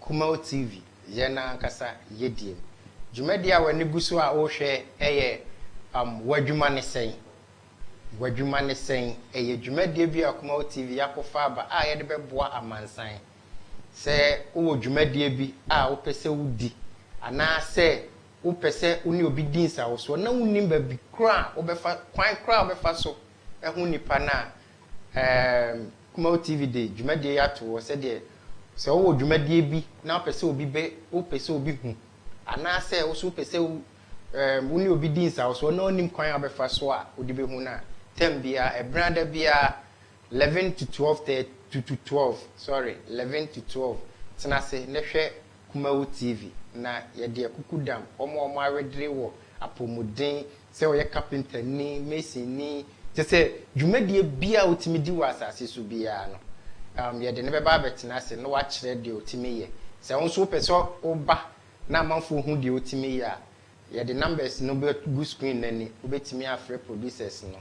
Kumau TV, Yɛn Ankasa Yediem. Dwumadi a w'ani gu so a wohwɛ yɛ um W'adwuma ne sɛn? W'adwuma ne sɛn? Ɛyɛ dwumadie bi a Kumau TV y'akɔfa aba a yɛde bɛboa amansan. Sɛ wowɔ dwumadie bi a wopɛ sɛ wodi anaa sɛ wopɛ sɛ wo ne obi di nsawosoɔ na wonnim baabi koro a wobɛfa, kwan koro a wobɛfa so ahu nipa no a, Erm Kumaw TV de dwumadie yi ato hɔ sɛdeɛ sɛ wowɔ dwumadie bi na wopɛ sɛ obi bɛ wopɛ sɛ obi hu anaa sɛ wo nso wopɛ sɛ wo erm wo ne obi di nsawɔsoɔ na ɔnnim kwan a wobɛfa so a wode bɛhu no a, term biara, ɛberɛ ada biara, 11 to 12 thir to to 12, sorry, 11 to 12, tena ase na hwɛ Kumaw TV na yɛde akukudam wɔn a wɔawedere wɔ apɔmuden Sɛ ɔyɛ kapentani, masonni, kyerɛ sɛ, dwumadie biara a wotumi di wɔ asase so biara no, um, yɛde no bɛba abɛtena ase na wakyerɛ deɛ otumi yɛ. Sɛ wo nso wopɛ sɛ woba na amanfoɔ hu deɛ wotumi yɛ a, yɛde numbers no bɛgu screen no ani. Wobɛtumi afrɛ producers no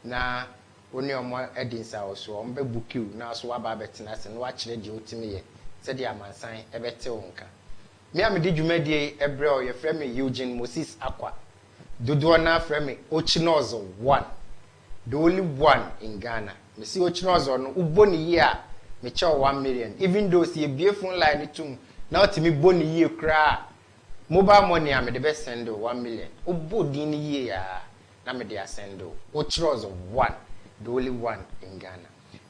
na wo ne wɔn adi nsawɔsoɔ. Wɔbɛbuki wo na wo nso woaba abɛtena ase na wakyerɛ deɛ wotumi yɛ sɛdeɛ amansan bɛte wo nka. Me a mede dwumadie yi brɛ wo yɛfrɛ me Eugene Moses Akwa. Dodoɔ no ara frɛ me Ochinozo one, the only one in Ghana. Mese Ochinozo no wobɔ no yie a mekyɛ wo one million even though sɛ yɛbue phone line no tom na wotumi bɔ no yie koraa a mobile money a mede bɛ send wo one million wobɔ din no yie a na mede asend wo. Ochinozo one, the only one in Ghana.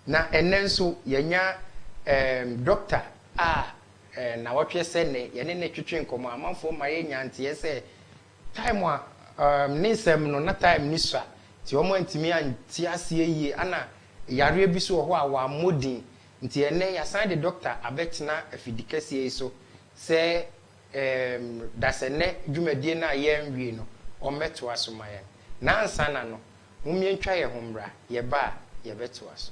Na ɛnnɛ nso yɛanya eem doctor a Nnawɔtwe sɛ nnɛ, yɛne no twetwe nkɔmmɔ. Amanfoɔ mma yɛnnya nteɛ sɛ Time a umm ne nsɛm no, na Time no sua nti wɔn antumi ante aseɛ yie. Ana yareɛ bi nso wɔ hɔ a wammɔ din. Nti ɛnnɛ yɛasan de Doctor abɛtena afidikɛseɛ yi so sɛ umm dasɛnnɛ dwumadie no a yɛanwie no, ɔmmɛtoa so ma yɛn. Nansana no, mommiɛntwa yɛn ho mmra, yɛba a, yɛbɛtoa so.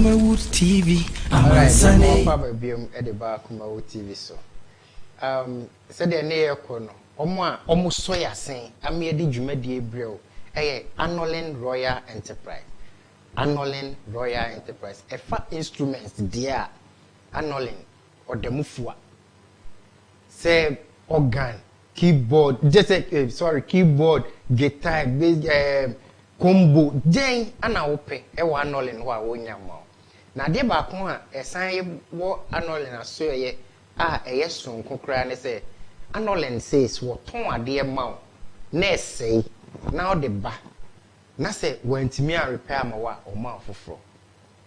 Kumawood TV amansan yi. Wɔn aba biom de ba Kumawood TV so. Um, sɛdeɛ ne yɛ kɔ no, wɔn a wɔn sɔ yɛ asen ama yɛde dwumadie brɛw ɛyɛ Anolin Royal Enterprise. Anolin Royal Enterprise. Ɛfa instruments deɛ a, Anolin ɔda mu fua. Sɛ organ, Keyboard gyesɛ eh sorry keyboard, guitar, bass ehm combo dɛn na wopɛ wɔ anɔlen hɔ a wonnya mma wo? Na adeɛ baako a ɛsan yɛ wɔ anɔlen asoɛeɛ a ɛyɛ soronko koraa ne sɛ anɔlen sees wɔtɔn adeɛ ma wo na ɛsɛe na wode ba na sɛ wantumi anrepɛ amma wo a wɔma wo foforɔ.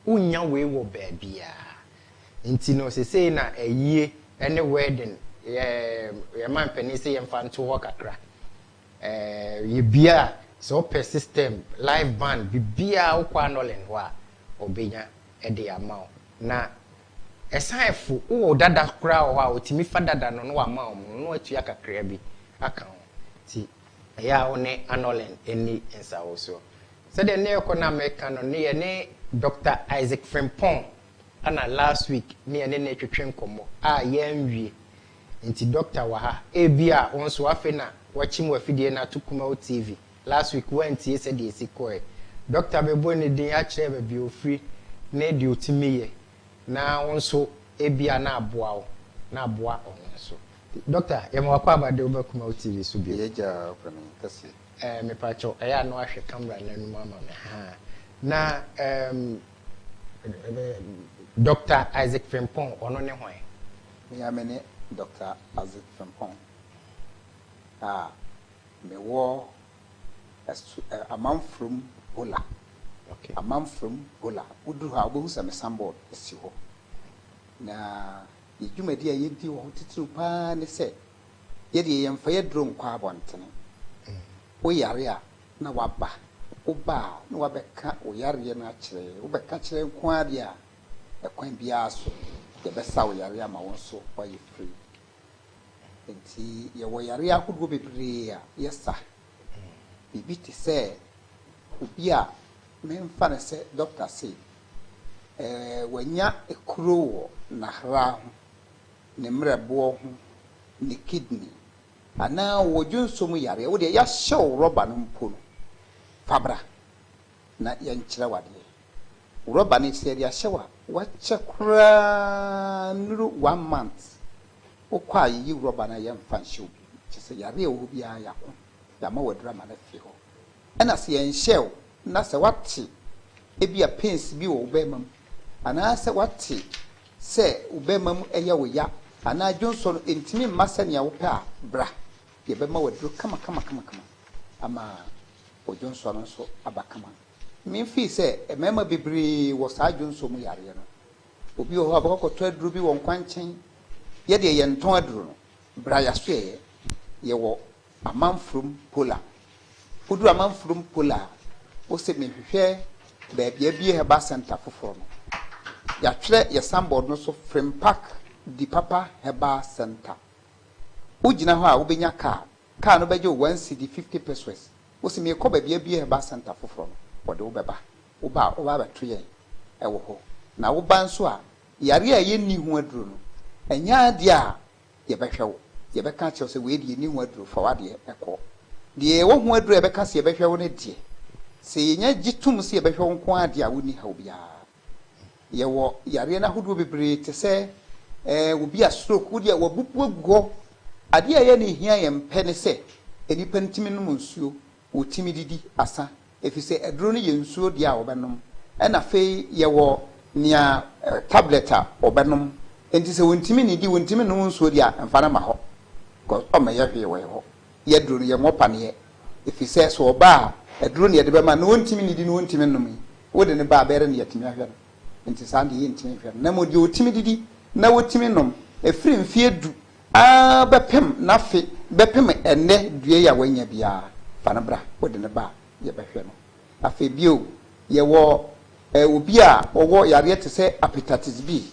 Wonnya wei wɔ baabiaa. Nti no sesei na ayie ne wedding yɛ yɛn manpanin se yɛmfa nto hɔ kakra. Ɛɛɛ yɛbia a, sɛ wopɛ system, live band, biribiaa wokɔ Anolin hɔ a wɔbɛnya de ama wo. Na ɛsan fo, wowɔ dada koraa wɔ hɔ a wɔtumi fa dada no na wɔama wo mono na woatua kakraa bi aka ho. Nti Ɛyɛ a wo ne Annullin nni nsawosoɔ. Sɛdeɛ ne ɛkɔ no a meka no ne yɛne Doctor Isaac Frimpong na last week ne yɛne no retwetwe nkɔmmɔ a yɛanwie. Nti Doctor wɔ ha. Ebia wo nso afei na woakyim w'afidie no ato Kumau TV. Last week woantie sɛdeɛ ɛsi kɔɔɛ. Doctor bɛbɔ ne din akyerɛ baabi a ɔfiri ne deɛ ɔtumi yɛ. Na wo nso ebia na aboa wo na aboa ɔno nso. Doctor, yɛma w'akwaaba de wo ba Kumau TV so bio. Yɛagya ɔpɛ no kɛseɛ. Eh, mepakyɛw, ɛyɛ a na wahwɛ camera no anum ama me, haa. Na ehm, Doctor Isaac Frimpong, ɔno ne hwan? Me ara mene Doctor Isaac Frimpong a mewɔ Ɛso ɛ Amanfrom Bola okay Amanfrom Bola woduru hɔ a wobɛhu sɛ me sanbɔɔd si hɔ na yɛ dwumadi a yɛdi wɔ hɔ titiriw pa ara ne sɛ yɛ deɛ yɛmfa yɛduro nkɔ abɔntene wo yare a na waba wo ba a na wabɛka wo yareɛ no akyerɛ wo bɛka kyerɛ nko ara deɛ a ɛkwan biara so yɛbɛsa wo yareɛ ama wo nso woayɛ free Enti yɛwɔ yare ahodoɔ bebree a yɛsa. Biribi te sɛ obi a memfa no sɛ dɔkta se wanya ekuro wɔ n'ahra ho, ne mmerɛboɔ ho, ne kidney anaa ɔwɔ dwonsɔ mu yareɛ, wo deɛ yɛahyɛ wo rɔba no mpo no, fa bra. na yɛnkyerɛ wo adeɛ. Wrɔba no sɛ yɛde ahyɛ wo a wakyɛ koraa nnuru one month wokɔ a yɛyi wrɔba no a yɛmfa nhyɛ wo bio kyerɛ sɛ yareɛ a ɛwɔ hɔ biara yɛako yɛama wo aduru ama no afiri hɔ ɛna sɛ yɛnhyɛɛ wo na sɛ woate ebia pains bi wɔ wo bɛɛma mu anaa sɛ woate sɛ wo bɛɛma mu ɛyɛ wo ya anaa dwonsɔ no ɛntumi mma sɛnea wopɛ a bra yɛbɛma wo aduru kama kama kama kama ama Odwonsɔ no nso aba kama. Min, Fii sɛ mmarima bebree wɔ saa dwonsɔ mu yareɛ no, obi wɔ hɔ a ɔbɛkɔ akɔtɔ aduro bi wɔ nkwankyɛn. Yɛ deɛ yɛntɔn aduro no, berɛ a yɛasoɛeɛ, yɛwɔ Amanfurom Pola. Woduru Amanfurom Pola a, wose mehwehwɛ baabi a abue Herbal Centre foforɔ no. Yɛatwerɛ yɛn sanbɔɔd no so Frimpark Dipapa Herbal Centre. Wogyina hɔ a, wobɛnya card. Car no bɛgye wo one cedi fifty pesoes, wose meekɔ baabi abue herbal centre foforɔ no, wɔde wo bɛba, woba a wobɛba abɛto yɛn wɔ hɔ, na woba nso a yareɛ a yɛnni ho aduro no, ɛnyɛ adeɛ a yɛbɛhwɛ wo, yɛbɛka akyerɛ wo sɛ wei deɛ yɛnni ho aduro, fa w'adeɛ kɔ. Deɛ yɛwɔ ho aduro a yɛbɛka sɛ yɛbɛhwɛ wo no deɛ, sɛ yɛnya gye tom sɛ yɛbɛhwɛ wo nko ara deɛ a wonni haw biara. Yɛwɔ yareɛ no ahodoɔ bebree te sɛ ɛɛ obi a stroke wo deɛ wabubu agu hɔ. Adeɛ a ɛyɛ ne hia yɛn pɛ ne sɛ nnipa no tumi nom nsuo, wɔtumi didi asa ɛfiri sɛ aduro no yɛ nsuo deɛ a wɔbɛnom ɛna afei yɛwɔ nea tablet a wɔbɛnom nti sɛ wɔntumi nnidi, wɔntumi nnom nsuo deɛ a mfa no ma hɔ kɔ ɔmmɛyɛ hwee wɔ yɛ hɔ. Yɛ aduro no yɛwɔ paneɛ Efisɛ sɛ ɔba a, aduro na yɛde bɛma no, na ɔntumi nnidi na ɔntumi nnome. Wode no ba a, bɛyɛdɛn na yɛatumi ahwɛ no? Enti saa deɛ yɛntumi nhwɛ no. Na mmom deɛ ɔtumi didi na ɔtumi nom, ɛfiri mfeɛ du ara bɛpem n'afe bɛpem ɛnnɛ dua yi a wanya biara, fa no bra. Wode no ba a, yɛbɛhwɛ no. Afei bio, yɛwɔ obi a ɔwɔ yareɛ te sɛ Hepatitis B,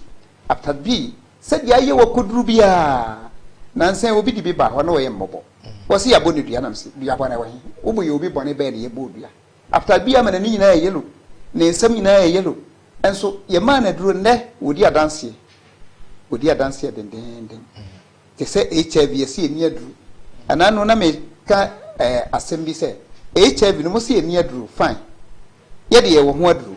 Hepatitis B, sɛdeɛ ayɛ wɔ koduru biara, nansa yi obi de bi ba hɔ na ɔyɛ mmɔbɔ. Wɔse yɛabɔ no dua na mese dua bɔne wɔ he? Wo bo yɛ obi bɔne bɛɛ na yɛbɔɔ dua? After bia ma n'ani nyinaa yɛ yellow, ne nsam nyinaa yɛ yellow, nso yɛmaa no aduro nnɛ wɔdi adanseɛ, wɔdi adanseɛ dendeenden te sɛ HIV yɛse yɛnni aduro. Ɛna no na meka eh, asɛm bi sɛ HIV no mose yɛnni aduro, fine, yɛde yɛwɔ ho aduro.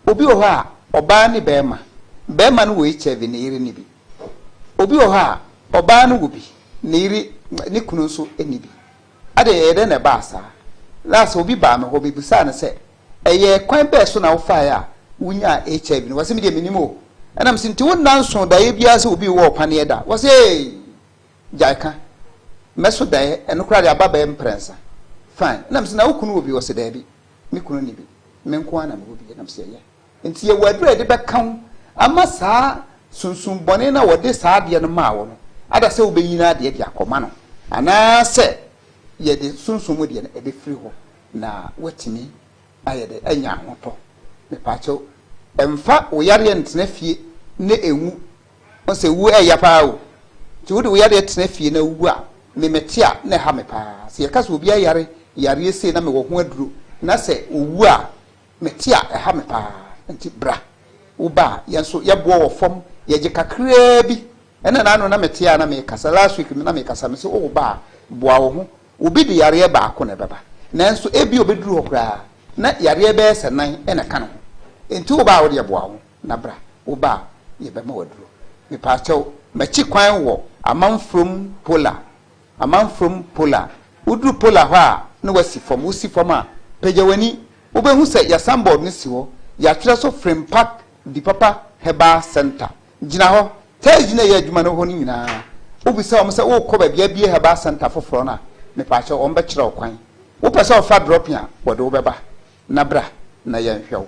Obi wɔ hɔ a, ɔbaa ne barima, barima no wɔ HIV ne yere nni bi. Obi wɔ hɔ a, ɔbaa no wɔ bi, ne yere, ne kunu nso nni bi. Adɛn, ɛyɛ dɛn na ɛbaa saa? Last obi baa me hɔ, mebisaa no sɛ, Ɛyɛ kwan bɛn so na wofaeɛ a wonyaa HIV no? Ɔse, Medeɛ mennim o. Ɛna mese, Nti wo nna nso daeɛ biara sɛ obi rewɔ wo paneɛ da? Ɔse, Eei! Gyae ka. Mɛso daeɛ, ɛno koraa deɛ aba bɛyɛ mprɛnsa. Fine. Ɛna mese, Na wo kunu wɔ bi? Ɔse, Daabi. Me kunu nni bi. Me nko ara na mewɔ bi, ɛnam sɛ ɛyɛ nti yɛwɔ aduru a yɛde bɛka ho ama saa sunsum bɔne no a wɔde saa adeɛ no maa wo no ada sɛ wobɛnyini adeɛ de akɔma no, anaasɛ yɛde sunsum mu deɛ no ɛbɛfiri hɔ na woatumi ayɛ dɛ anya ahotɔ. Mepaakyɛw, mfa wo yareɛ ntena fie na ɛnwu. Ɔn sɛ wu ɛɛya paa o. Nti wode wo yareɛ tena fie na wu a me mɛte a na ɛha me paa. Sɛ yɛka sɛ obi ayare yareɛ sei na mewɔ ho aduro na sɛ ɔwu a mɛte a ɛha me paa. Nti bra. Wo ba a yɛn nso yɛboɔ wɔ fam yɛgye kakraa bi. Ɛna na ano na mete a na mekasa last week na mekasa mese wo wo ba a boa wo ho. Obi de yareɛ baako na ɛbɛba nanso ebia ɔbɛduru hɔ koraa na yareɛ bɛyɛ sɛ nan na ɛka ne ho. Nti wo ba a wodeɛ boa wo ho. Na bra, wo ba a, yɛbɛma wo aduro. Mepaakyɛw, makyi kwan wɔ Amanfrom Pola, Amanfrom Pola. Woduru Pola hɔ a, na wɔasi fam. Wosi fam a, pagya w'ani. Wobɛhu sɛ yɛn sanbɔɔd no si hɔ. Yɛatwerɛ so Frimpak Dipapa Herbal Centre. Gyina hɔ. Thursday na yɛyɛ adwuma no hɔ no nyinaa. Wobisa wɔn sɛ worekɔ baabi abue Herbal Centre foforɔ no a, mepaakyɛw, wɔbɛkyerɛ wo kwan. Wopɛ sɛ wofa drɔpin a, wɔde wo bɛba. Na bra na yɛnhwɛ wo.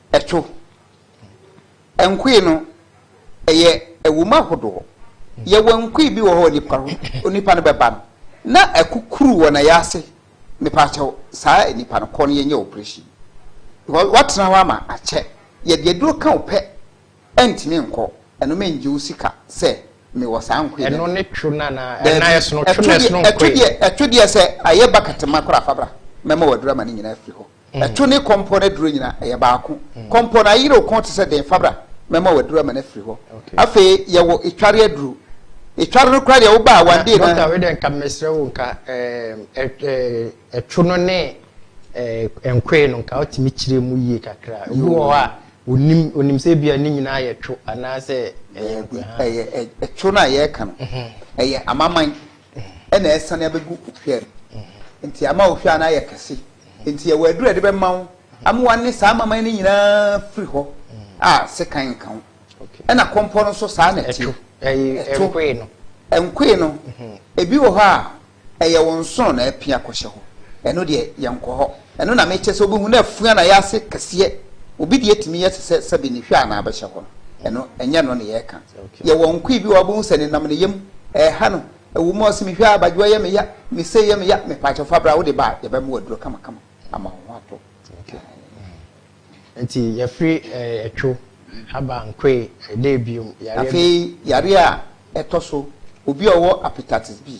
Ɛto. Nkoe no, ɛyɛ ɛwom ahodoɔ. Yɛwɔ nkoe bi wɔ hɔ onipa ho, onipa no bɛba no, na akukuru wɔ nayaase, mepaakyɛw, saa nipa no, kɔ no yɛnyɛ wo operation. Because woatena hɔ ama akyɛ, yɛde aduro ka wo pɛ, ɛntumi nkɔ, ɛno mengye wo sika sɛ mewɔ saa nkoe no bi. Ɛno ne two no anaa? Daabi. Ɛnan ɛsono, two no ɛsono nkoe no. Ɛto deɛ sɛ ayɛ bakatema koraa, fa bra, mɛma wo aduro ama ne nyinaa afiri hɔ. Ɛto ne kɔmpɔ no aduro nyinaa ɛyɛ baako. Kɔmpɔ no ayere wo kɔn te sɛ dɛn? Fa bra mɛma wo aduro ama no afiri hɔ. Afei yɛwɔ etware aduro. Etware no koraa deɛ wo ba a wandee no. Na dɔkta wei deɛ nka mesrɛ wo nka ɛtwo no ne nkoe no nka wotumi kyerɛ mu yie kakra. Obi wɔ hɔ a ɔnim, ɔnim sɛ ebia ne nyinaa yɛ two anaasɛ ɛyɛ nkoe. Ɛyɛ ɛtwo no a yɛreka no ɛyɛ amaman ɛna ɛsane abɛgu ohwɛ no nti ama ohwɛ a na ayɛ kɛse Enti ɛwɔ aduru a ɛde bɛma wo ama woane saa amaman no nyinaa firi hɔ a sekan nka ho. Ɛna kɔmpɔ no nso saa na ɛteɛ. Ɛto. Ɛnkoe no, ebi wɔ hɔ a ɛyɛ wo nsono na apia kɔhyɛ hɔ. Ɛno deɛ, yɛnkɔ hɔ. Ɛno na mekyɛ sɛ wobɛhu na afua na ayɛ ase kɛseɛ. Obi deɛ tumi yɛ te sɛ sɛbe ne hwa anaa bɛhyɛ hɔ no. Ɛno, ɛnyɛ ɛno na yɛreka. Yɛwɔ nkoe bi wɔ hɔ a wobɛhu sɛ nenam ne yam ɛreha no Ɛwɔ mu a ɔse mehwɛ a abadwoɔ yɛ me ya, me sei yɛ me ya, me paakyɛw fa bra wode ba a yɛbɛ mo aduro kama kama ama wo ho atɔ. Nti yɛfiri ɛtwo, haba, nkoe, ɛdee biom, yareɛ bi. Afei yareɛ a ɛtɔ so obi a ɔwɔ Hepatitis B,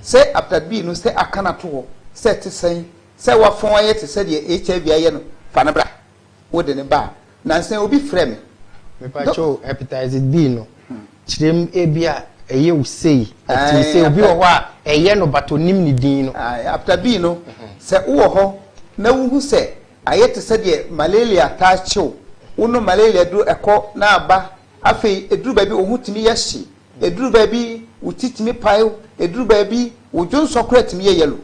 sɛ Hepatitis B no sɛ aka no ato hɔ sɛ ɛte sɛn, sɛ wafɔn ayɛ te sɛ deɛ HIV ayɛ no, fa no bra. Wode no ba a, nansa yi obi frɛ me. Mepakyɛ o, hepatitis B no, kyerɛ mu ebi a ɛyɛ wo sei, ɛte wo sei, obi wɔ hɔ a ɛyɛ no but onim ne din no. Ae, hepatitis B no, sɛ wowɔ hɔ na wuhu sɛ ayɛ te sɛ deɛ malaria taa kye wo, wonom malaria duro ɛkɔ na aba, afei ɛduru baabi wo ho tumi yɛ hye, Ɛduru baabi wo ti tumi pae, ɛduru baabi wo dwonsɔ koraa tumi yɛ yellow.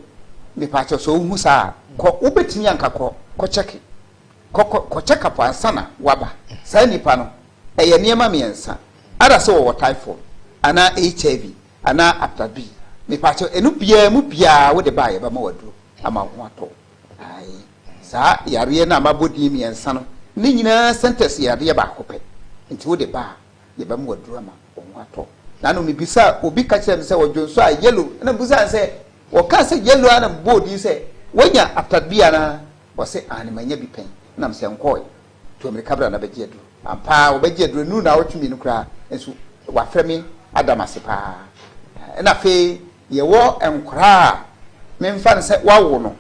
Mepaakyɛw sɛ wohu saa a, kɔ, wobɛtumi anka kɔ, kɔ kyɛke. Kɔ, kɔ, kɔ check up ansa na woaba. Saa nnipa no, ɛyɛ nneɛma mmiɛnsa, either sɛ wɔwɔ typhoid, anaa HIV, anaa hepatitis B. Mepaakyɛw, ɛno biara mu biara wode ba a yɛbɛma wo aduro ama wo ho atɔ wo. Ae. Saa yareɛ no a mabɔ din mmiɛnsa no, ne nyinaa centers yɛ adeɛ baako pɛ. Nti wode ba a, Yɛbɛma waduru ama wo ho atɔ. N'ano mibisaa, obi ka kyerɛɛ me sɛ ɔdwonsɔ a yellow na mibisaa no sɛ wɔkaa sɛ yellow a na mebɔɔ din sɛ wanya atade bi anaa? Ɔse aane manya bi pɛn na mesɛ nkɔɔe. Tu amirika bra na bɛgye aduru. Ampa ara wɔbɛgye aduru, ɛnuru naawɔtwe mmienu koraa nso wafrɛ me ada me ase pa ara. Ɛna afei yɛwɔ nkwadaa a memfa no sɛ wawo no,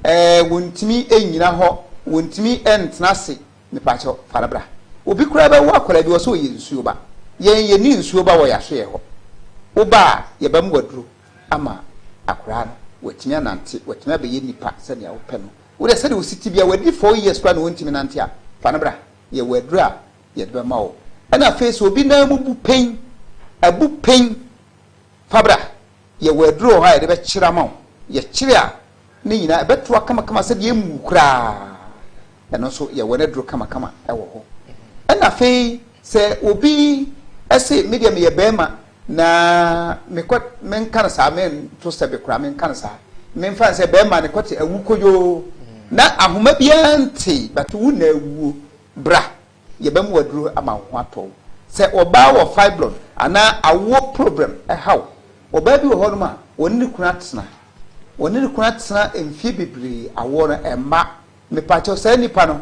ɛɛ wɔntumi nnyina hɔ, wɔntumi ntena ase, Mepakyɛw, fa no bra. Obi koraa bɛwo akwadaa bi, ɔsɛ ɔyɛ nsuo ba. Yɛn yɛnni nsuo ba wɔ yɛn ahwɛyɛ hɔ. Woba a, yɛbɛma waduro ama akwadaa no, watumi anante, watumi abɛyɛ nipa sɛnea wopɛ no. Wo deɛ sɛdeɛ wosi te biara, wadi four years koraa na ɔntumi nante a, fa no bra. Yɛwɔ aduro a yɛde bɛma wo. Ɛna afei sɛ obi nan mu bu pɛn, abu pɛn, fa bra. Yɛwɔ aduru wɔ hɔ a yɛde bɛkyere ama wo. Yɛkyere a, ne nyinaa ɛbɛtoa kamakama sɛdeɛ ɛmmu wo koraa. Ɛno nso, yɛwɔ n'aduru kamakama wɔ hɔ. Ɛnna afei, sɛ obi se, Me deɛ meyɛ barima, na mekɔ, menka no saa, mento sɛbe koraa, menka no saa. Memfa no sɛ barima no kɔte awu koyoo, na ahoma biara nte, but wo na awuo. Bra, Yɛbɛma wo aduro ama wo ho atɔ wo. Sɛ ɔbaa wɔ fibroid anaa awoɔ problem ɛha wo, ɔbaa bi wɔ hɔ nom a, ɔne ne kunu atena, ɔne ne kunu atena mfie bebree, awoɔ no ɛmma, mepaakyɛw saa nipa no,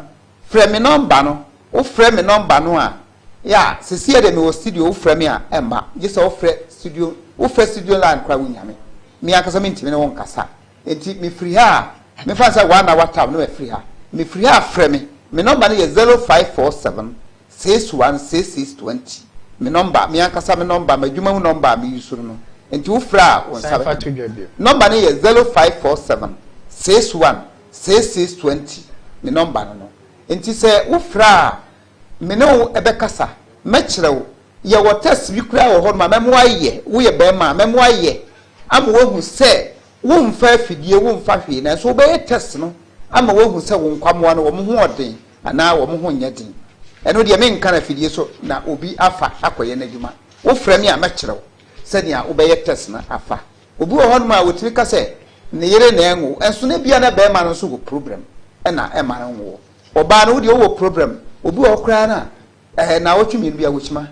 frɛ me nɔmba no, wo frɛ me nɔmba no a, ya, sesiɛ deɛ mewɔ studio, wo frɛ me a, ɛmma, gyesɛ wo frɛ studio, wo frɛ studio line koraa wo nya me, me ankasa mentumi ne wo nkasa, Enti mefiri ha a, memfa no sɛ woa na woataw na mafiri ha. Mefiri ha a, frɛ me. Me nɔmba no yɛ zero five four seven, six one six six twenty. Me nɔmba, me ankasa me nɔmba, m'adwuma mu nɔmba a meyusu no no. Enti wofrɛ a, wo nsa bɛka me. Nɔmba no yɛ zero five four seven, six one six six twenty. Me nɔmba no no. Enti sɛ wofrɛ a, Me ne wo bɛkasa, mɛkyerɛ wo. Yɛwɔ test bi koraa wɔ hɔnom a mɛma woayɛ, woyɛ barima a, mɛma woayɛ ama woahu sɛ womfa afidie, womfa hwee, nanso wobɛyɛ test no ama woahu sɛ wo nkwammoa no, wɔn ho wɔ den anaa wɔn ho nyɛ den. Ɛno deɛ, menka no afidie so na obi afa akɔyɛ n'adwuma. Wofrɛ me a, mɛkyerɛ wo sɛdeɛ wobɛyɛ test no afa. Obi wɔ hɔnom a, ɔtumi ka sɛ ne yere na ɛnwo, nso na ebia na barima no nso wɔ problem na ɛmma no nwoɔ. Ɔbaa no wodeɛ wowɔ problem obi wɔ hɔ koraa no a ɛɛ naawɔtwe mmienu bia wɔkyima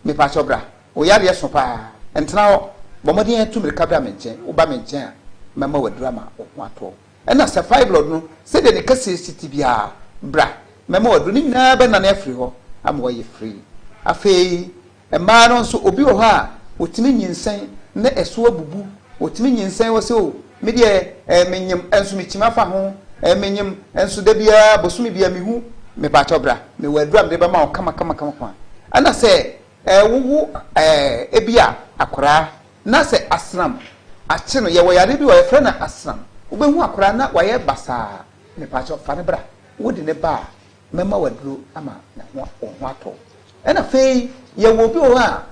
mepakyɛw bra wo yareɛ so paa ntena hɔ bɔ mmɔden ɛtu mirika bra me nkyɛn woba me nkyɛn a mɛma wo aduru ama wo ho atɔ wo ɛna sɛ fibroid no sɛdeɛ ne kɛseɛ si te biaa bra mɛma wo aduru ne nyinaa bɛnane afiri hɔ ama woayɛ free afei Mmaa no nso obi wɔ hɔ a ɔtumi nyinsɛn na ɛso abubu, ɔtumi nyinsɛn wɔ sɛ o me deɛ ɛɛ menyem nso mekyim afa ho, ɛɛ menyem nso da biara bosome biara mehu, mepakyɛw bra mewɔ aduro a mede bɛma wo kama kama kama kama. Ɛna sɛ ɛɛ wowo ɛɛ ebi a akwadaa na sɛ asram akye no, yɛwɔ yareɛ bi wɔ hɔ yɛfrɛ no asram, wobɛhu akwadaa na wayɛ basaa, mepakyɛw fa no bra, wode no ba a Mɛma waduro ama wo ho atɔ wo. Ɛna afei yɛwɔ obi wɔ hɔ a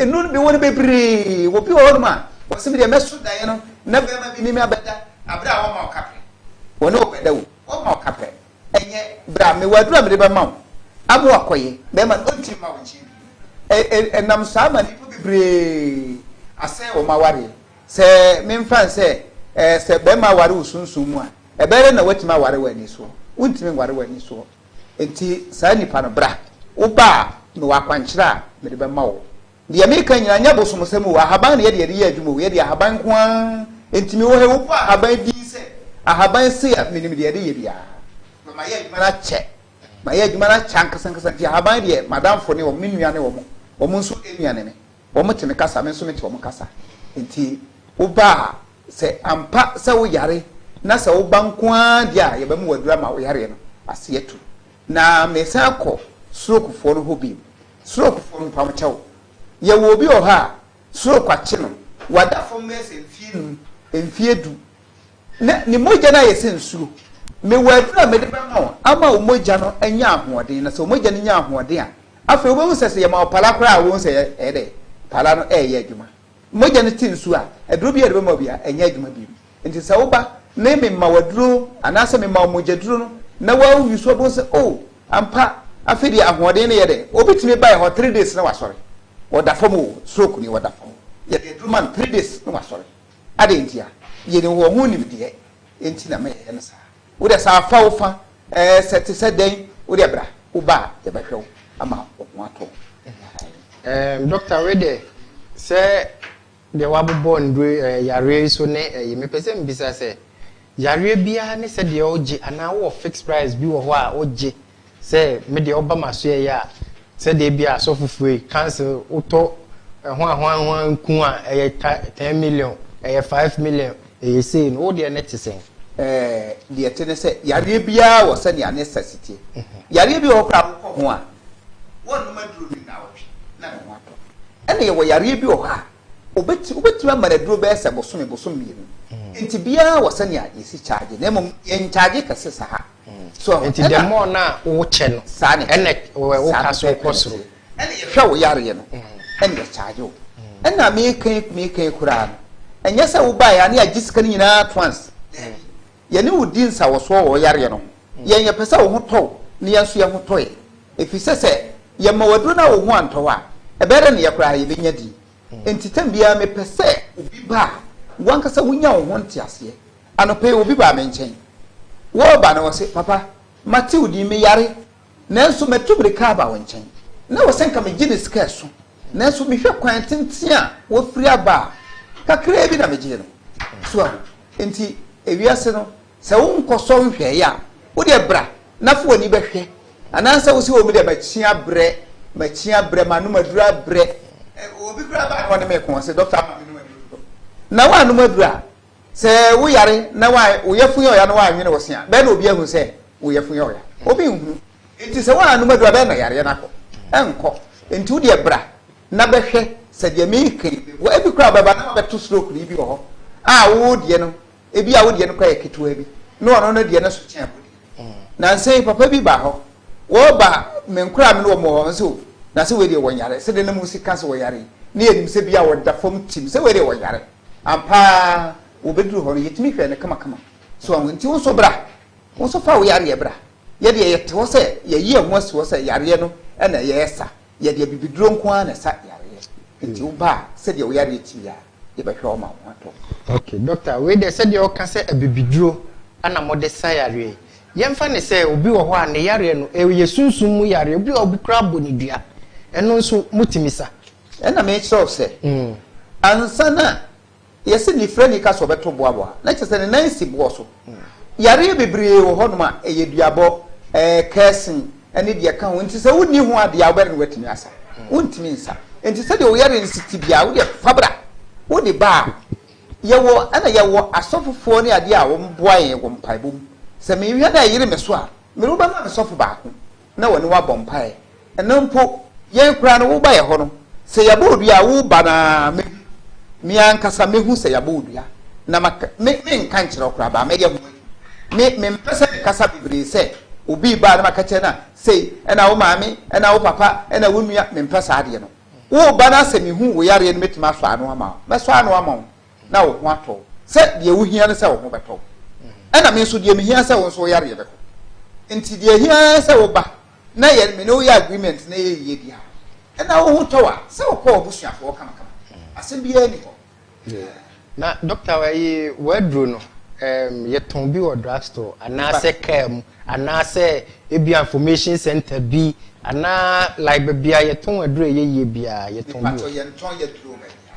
enu no bi wɔ no bebree wɔ bi wɔ hɔ nom a wɔsɛ mi deɛ mɛso daeɛ no na bɛrima bi ne mi abɛda abere a wɔma ɔka pɛ wɔne wo bɛda o wɔma ɔka pɛ ɛnyɛ bra mewɔ aduro a mede bɛma wo ama wakɔyɛ bɛrima no ɔntumi ma wo nkyɛn bio ɛnam saa ma nipa bebree asɛe wɔn awareɛ sɛ memfa nsɛ sɛ bɛrima aware wo sunsun mu a Ɛbɛyɛ dɛn na woatumi aware wo ani soɔ? Wontumi nware w'ani soɔ. Enti saa nnipa no, bra. Woba a, mewɔ akwankyerɛ a mede bɛma wo. Deɛ mereka nyinaa, ɛnyɛ abosomsɛm o. Ahaban na yɛde yɛde yɛ adwuma o. Yɛde ahaban nko ara. Enti mewɔ ha yi, wobɔ ahaban din sɛ ahaban sei a, menim deɛ yɛde yɛ biara. Na mayɛ adwuma no akyɛ. Mayɛ adwuma no akyɛ ankasankasa. Enti ahaban deɛ, m'adamfo ne wɔn, me nua ne wɔn. Wɔn nso nua ne me. Wɔte me kasa, me nso mete wɔn kasa. Enti woba a, sɛ ampa sɛ woyare na sɛ woba nko ara deɛ a, yɛbɛma wo aduro ama wo yareɛ no ase atu. Na meresan akɔ strokefoɔ no hɔ bio. Strokefoɔ no, mpamokyɛ wo, yɛwɔ obi wɔ hɔ a stroke akye no, wada fam bɛyɛ sɛ mfeɛ nnum, mfeɛ du. Na ne mogya no ayɛ sɛ nsuo. Mewɔ aduro a mede bɛma wo ama wo mogya no anya ahoɔden, na sɛ wo mogya no nya ahoɔden a, afei wobɛhu sɛ sɛ yɛma wo pala koraa a, wobɛhu sɛ ɛyɛ dɛ, pala no reyɛ adwuma. Mogya no te nsuo a, aduro biara a yɛde bɛma wo biara, ɛnyɛ adwuma bio. Enti sɛ woba na mema wo aduro anaasɛ mema wo mogyaduro no na woawi so a, wobɛhu sɛ, oh, ampa, afei deɛ ahoɔden no yɛ dɛ. Obi tumi ba yɛn hɔ three days na wasɔre. Ɔda fam o, stroke nie, ɔda fam o, yɛde aduro ma no three days na wasɔre. Adɛn nti a? Yɛnim wɔ ho nimdeɛ nti na ma yɛyɛ no saa. Wo deɛ sɛ afa wo fa ɛɛ sɛ te sɛ dɛn, wo deɛ bra, wo ba a yɛbɛhwɛ wo ama wo ho atɔ wo. Ɛɛm, Dɔkta, wei deɛ sɛ deɛ woabobɔ nnuro yi ɛɛ yareɛ yi so ne ɛyi, mepɛ sɛ mebisa sɛ, yareɛ biara ne sɛdeɛ wogye anaa wowɔ fixed price bi wɔ hɔ a wogye Sɛ me deɛ ɔba m'asoɛeɛ a, sɛdeɛ ebia asɔfofoɔ yi, council, wotɔ ɛho ahoahoa nku a ɛyɛ ta, ten million, ɛyɛ five million, ɛyɛ sei no, wo deɛ ne te sɛn? Ɛɛ, deɛ ɛte ne sɛ, yareɛ biara wɔ sɛnea ne sɛs teɛ. Yareɛ bi wɔ hɔ koraa a wokɔ ho a, wonnom aduro no nnawɔtwe na ne ho atɔ. Ɛnna yɛwɔ yareɛ bi wɔ hɔ a, wɔbɛtu, wobɛtumi ama no aduro bɛyɛ sɛ bosome, bosome mmienu. Enti biara wɔ sɛnea yɛsi charge, na mmom yɛnncharge kɛse saa. So nti the more na wokyɛ no ɛna woka so kɔ soro. Hwɛ wo yareɛ no ɛna ɛkyaagye wo ɛna meka yi meka yi koraa no ɛnyɛ sɛ wobaeɛ a ne agye sika no nyinaa at once. Yɛne wo di nsawɔsoɔ wɔ wo yareɛ no ho. Yɛn yɛpɛ sɛ wo ho tɔ wo na yɛn nso yɛn ho tɔ yɛn. Ɛfiri sɛ sɛ yɛma wo aduro no a wo ho antɔ wo a ɛbɛyɛ dɛ ne yɛ koraa yɛbɛnya din. Enti tɛm biara mepɛ sɛ obi ba a w'ankasa wunya wo ho nteaseɛ. Anɔpa yi obi baa me nkyɛn. Wɔreba no ɔse, Papa, mate wo din, meyare, nanso matu mmirika aba wo nkyɛn. Na wɔ sɛ nka megye ne sika ɛso, nanso mehwɛ kwan tenten a wafiri aba a, kakraa bi na megyee no. So ahu? Enti ewiase no, Sɛ wonkɔsɔ nhwɛe a, wo deɛ bra na fa w'ani bɛhwɛ. Anaasɛ wose oh me deɛ makyin abrɛ, makyin abrɛ, m'anom aduru abrɛ. Obi koraa baa na ɔne me reko, ɔse Doctor ama menom aduru dodo. Na woannom aduru a, sɛ wo yare na wo yafun yɛ ɔya na woannwene wo se a, bɛn na obi ahu sɛ wo yafun yɛ ɔya? Obi nhunu. Enti sɛ woannom aduru a, bɛn na yareɛ no akɔ? Ɛnkɔ. Enti wo deɛ bra na bɛhwɛ sɛ deɛ mereka yi bɛboa. Ebi koraa wobɛba na wabɛto stroke no, ebi wɔ hɔ a wo deɛ no ebi a wo deɛ no kora yɛ ketewa bi na ɔno no deɛ no so kyɛn wo deɛ na nsa yi papa bi ba hɔ wɔba menkora me no wɔn wɔ hɔ nso na sɛ wei deɛ wɔn yare sɛ deɛ na mu sika sɛ wɔyare yi ne yɛ nim sɛ bi a wɔda fam tim sɛ wei deɛ wɔn yare ampaa wɔbɛduru hɔ no yɛtumi hwɛ no kamakama so wɔn nti wo nso bra wo nso fa wo yareɛ bra yɛdeɛ yɛte hɔ sɛ yɛyi ɛho asi hɔ sɛ yareɛ no ɛna yɛyɛ sa Yɛde abibiduro nko ara na ɛsa yareɛ, nti wo ba a, sɛdeɛ wo yareɛ te biara, yɛbɛhwɛ wo ma wo ho atɔ wo. Ok, Dɔkta, wei deɛ sɛdeɛ woka sɛ abibiduro na mode sa yareɛ yi, yɛmfa no sɛ obi wɔ hɔ a ne yareɛ no, ɛyɛ sunsum mu yareɛ, obi wɔ hɔ a obi koraa bɔ no dua, ɛno nso motumi sa? Ɛnna mekyerɛ wo sɛ, ansa na Yɛse nifirani ka sɛ ɔbɛto boaboa a, na kyerɛ sɛ ne nan si boɔ so. Yareɛ bebree wɔ hɔnom a, ɛyɛ duabɔ, kɛɛsen, ne deɛ ɛka ho nti sɛ wonni ho adeɛ a, wobɛre no woatumi asa? Wontumi nsa. Nti sɛdeɛ wo yareɛ no si te biara, wodeɛ fa bra, wode ba a, yɛwɔ, ɛna yɛwɔ asɔfofoɔ ne adeɛ a wɔboa yɛn wɔ mpaebɔ mu. Sɛ menhwɛ na ɛyere me so a, mede wo bɛma me sɔfo baako. na wɔne wo abɔ mpaeɛ. Ɛno mpo, yɛn koraa no, woba yɛn hɔ no, sɛ yɛabɔ wo dua a, woreba no ara me me ankasa mɛhu sɛ yɛabɔ wo dua, na ma me menka nkyerɛ wo koraa, baa mɛyɛ ho adwuma. Me mempɛ sɛ mekasa bebree sɛ obi reba a na maka kyerɛ no a, sei ɛna wo maame, ɛna wo papa, ɛna wo nua, mempɛ saa adeɛ no. Woreba no ara sɛ mehu wo yareɛ no mɛtumi asɔ ano ama wo, mɛsɔ ano ama wo. na wo ho atɔ wo sɛ deɛ wohia ne sɛ wo ho bɛtɔ wo, ɛna me nso deɛ mehia sɛ wo nso wo yareɛ bɛkɔ. Nti deɛ ɛhia ara ne sɛ woba na yɛ me ne wo yɛ agreement na yɛ yie bi a, ɛna wo ho tɔ wo a, sɛ wo kɔ w'abusuafoɔ kamakama. Asɛm biara nni hɔ. Yeah. Na doctor ɛyi w'aduro no um, yɛ tɔn bi wɔ drug store anaasɛ car mu anaasɛ ebi information center bi anaa like baabi a yɛ tɔn aduro ɛyɛ yie biara yɛ tɔn bi wɔ. Mepatɔ yɛn tɔn yɛ duro baabi a.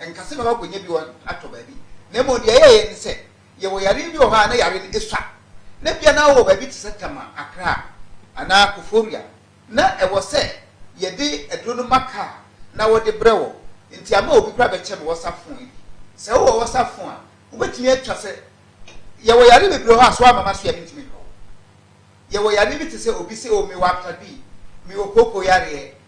Ɛnka sɛ mɛma akonnwa bi wɔ atɔ baabi, na mmom deɛ ɛyɛeɛ ne sɛ, yɛwɔ yareɛ bi wɔ hɔ a na yareɛ no sua, na ebia na wowɔ baabi te sɛ Tama, Accra, anaa Koforia, na ɛwɔ sɛ yɛde aduro no ma kaa na wɔde brɛ wo, enti ama obi koraa bɛkyɛ me Whatsapp fon yi. Sɛ wowɔ Whatsapp fon a, wobɛtumi atwa sɛ, Yɛwɔ yareɛ bebree wɔ hɔ a, so woamma m'aso yi a mentumi nhwɛ wo? Yɛwɔ yareɛ bi te sɛ obi se, Oh, mewɔ apta B, mewɔ kooko yareɛ,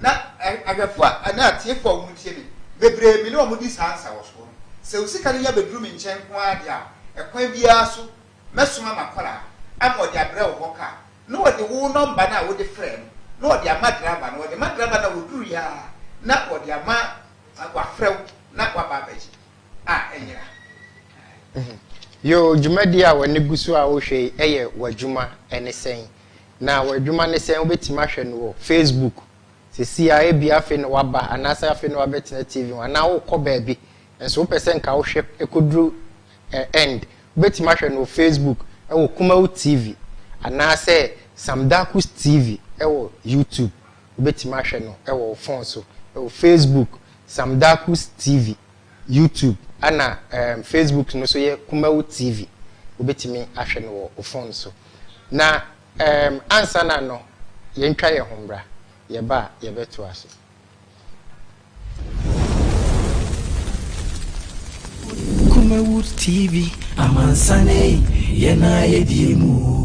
Na ahwɛfo a anaa atiefo a wɔtie me bebree, me ne wɔn di saa nsawɔsoɔ no. Sɛ wo sika no nya bɛduru me nkyɛn nko ara deɛ a, ɛkwan biara so mɛsoma m'akwadaa ama ɔde abrɛ wo hɔ kaa, na ɔde wo nɔmba no a wode frɛɛ no na ɔde ama draba no, ɔde ma draba no a, ɔduruiɛ ara na ɔde ama wafrɛ wo na waba abɛgye a, ɛnyera. Yoo, dwumadie a w'ani gu so a wohwɛ yi yɛ w'adwuma ne sɛn? Na w'adwuma ne sɛn? Wobɛtumi ahwɛ no wɔ Facebook seesei ara, ebia afei na woaba anaasɛ afei na woabɛtena TV ho anaa worekɔ baabi nso wopɛ sɛ nka wohwɛ kɔduru end. Wobɛtumi ahwɛ no wɔ Facebook wɔ Kumawu TV anaasɛ Sam Darkus TV wɔ YouTube. Wobɛtumi ahwɛ no wɔ wo fon so wɔ Facebook Sam Darkus TV YouTube ɛna ɛɛm Facebook no so yɛ Kumawu TV. Wobɛtumi ahwɛ no wɔ wo phone so. Na ɛɛm ansa na no yɛntwa yɛn ho mmra. Yɛba a yɛbɛtoa so. Kumawu TV, amansan ei, yɛn ara yɛdie mu oo.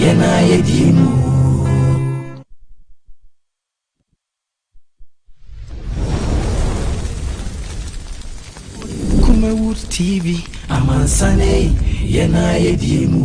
Yɛn a yɛdi mu. Kumawood TV amansan ei yɛn a yɛdi mu.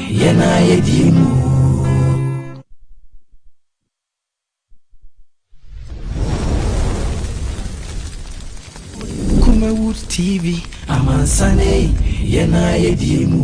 Yɛn a yɛdi mu. Kumawood TV amansan ei yɛn a yɛdi mu.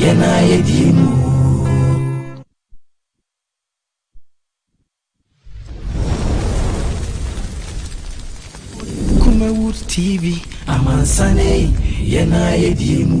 Yɛn a yɛdi mu. Kumawood TV amansan ei, yɛn a yɛdi mu.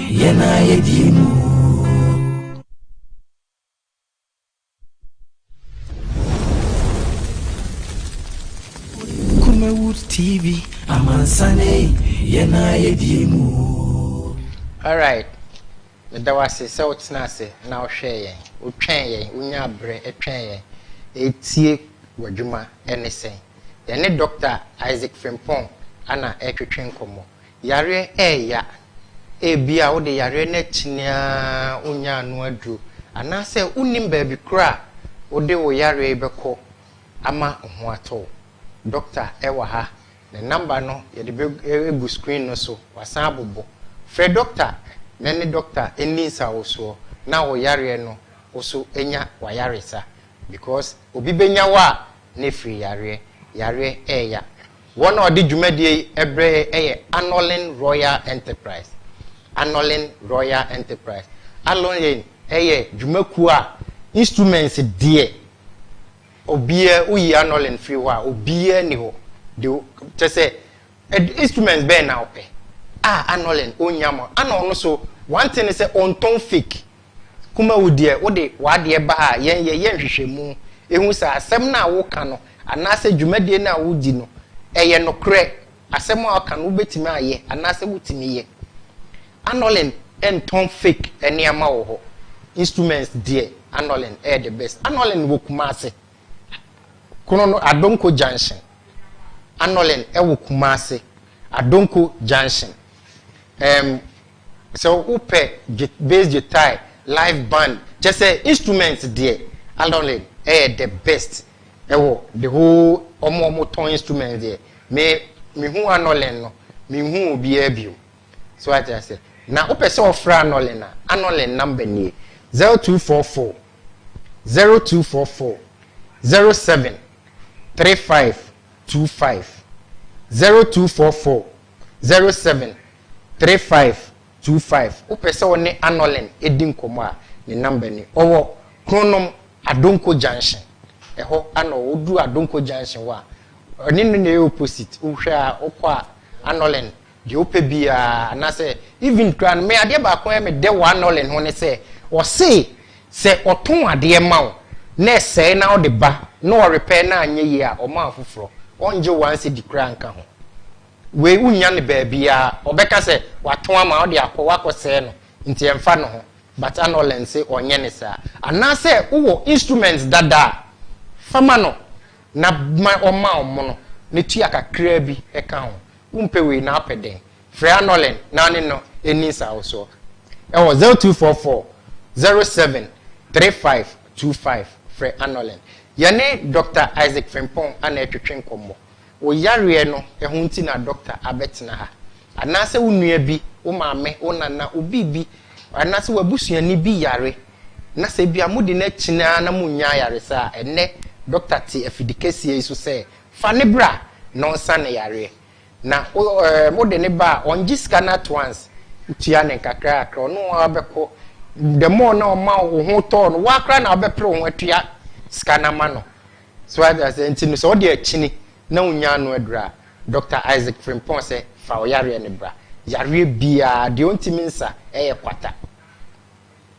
Yɛn a yɛdi mu. Kumawood TV amansan ei yɛn a yɛdi mu. Alright, meda wo ase sɛ wotenaa ase na wohwɛɛ yɛn, wotwɛn yɛn, wonyaa berɛ twɛn yɛn retie w'adwuma ne sɛn. Yɛne Dɔkta Isaac Frimpong na ɛretwetwe nkɔmmɔ. Yareɛ reyɛ a, ebia wode yareɛ no akyi no ara wonnya ano aduro, anaasɛ wonnim baabi koraa a wode wo yareɛ yi bɛkɔ ama ho atɔ wo. Dɔkta wɔ ha, ne namba no yɛde bɛgu screen no so, wasan abobɔ. Frɛ dɔkta na ɛne dɔkta nni nsawosoɔ na wo yareɛ no wo so nya w'ayaresa because obi bɛnya wo a na ɛfiri yareɛ. Yareɛ reyɛ a. Wɔn a wɔde dwumadie yi brɛ yɛn yɛ Anolin Royal Enterprise, Anolin Royal Enterprise. Anolin yɛ dwumakuo a instruments deɛ obiara, woyi Anolin firi hɔ a, obiara nni hɔ. De, kyɛ sɛ, instruments bɛn na wopɛ? Ah, Anolin, ɔnnya ma wo. Ana ɔno nso, one thing ne sɛ, ɔntɔn fake. Kumawu deɛ wode w'adeɛ ba a yɛn yɛ yɛ nhwehwɛmu hu sɛ asɛm no a woka no anaasɛ dwumadie no a wodi no ɛyɛ nokorɛ, asɛm a woka no wobɛtumi ayɛ anaasɛ wotumi yɛ. Anolin ntɔn fake nneɛma wɔ hɔ, instruments deɛ Anolin ɛyɛ the best. Anolin wɔ Kumasi, Krono Adonko junction, Anolin ɛwɔ Kumasi, Adonko junction. Ɛɛm, sɛ wopɛ gyi bass gyitae, live band, kyerɛ sɛ instrument deɛ, Alorlin yɛ the best wɔ the whole wɔn a wɔtɔn instrument deɛ. Me, mehu Anolin no, menhuu obiara bio. So wate aseɛ? Na wopɛ sɛ wofrɛ Anolin a, Anolin number nie, 0244 0244 07 3525 0244 Zero seven, three five, two five Wopɛ sɛ wo ne Anolin di nkɔmmɔ a, ne number ni. Ɔwɔ Kronom, Adonko Junction. Ɛhɔ na ɔwɔ. Woduru Adonko Junction hɔ a, ɔne no na ɛyɛ opposite. Wohwɛ a, wokɔ a, Anolin, deɛ wopɛ biara, anaasɛ even koraa no, me adeɛ baako a ɛyɛ me dɛ wɔ Anolin ho ne sɛ, ɔse Sɛ ɔtɔn adeɛ ma wo na ɛsɛe na wode ba na ɔrepɛɛ na anyɛ yie a, ɔma afoforɔ. Ɔngye wo one cedi koraa nka ho. Wei wonnya no baabiara. Ɔbɛka sɛ watɔn ama wo de akɔ woakɔ sɛe no nti ɛmfa ne ho but ana ɔlearn se ɔnyɛ ne saa? Anaasɛ wowɔ instruments dada a, fa ma no na ma ɔma wo mono na tua kakraa bi ka ho. Wompɛ wei na wopɛ dɛn? Pregnenolone naane no nni nsawosoɔ wɔ 0244 07 3525 frɛ anɔlen. Yɛne Dɔkta Isaac Frimpong na ɛretwetwe nkɔmmɔ. Wo yareɛ no ho nti na dɔkta abɛtena ha. Anaasɛ wo nua bi, wo maame, wo nana, obi bi, anaasɛ w'abusuani bi yare na sɛ ebia mode no akyini ara na monnya ayaresa a, ɛnnɛ dɔkta te afidikɛseɛ yi so sɛ fa no bra na ɔnsa ne yareɛ. Na wode no ba a ɔngye sika no at once, wotua no nkakrankakra, ɔne wo ara bɛkɔ, the more na ɔma wo ho tɔ no, wo ara koraa na wobɛpere wo ho atua sika no ama no. So wate aseɛ? Nti no sɛ ɔde akyini na wonnya ano aduru a, Dɔkta Isaac Frimpong sɛ fa wo yareɛ no bra. Yareɛ biara, deɛ ɔntumi nsa, ɛyɛ kwata.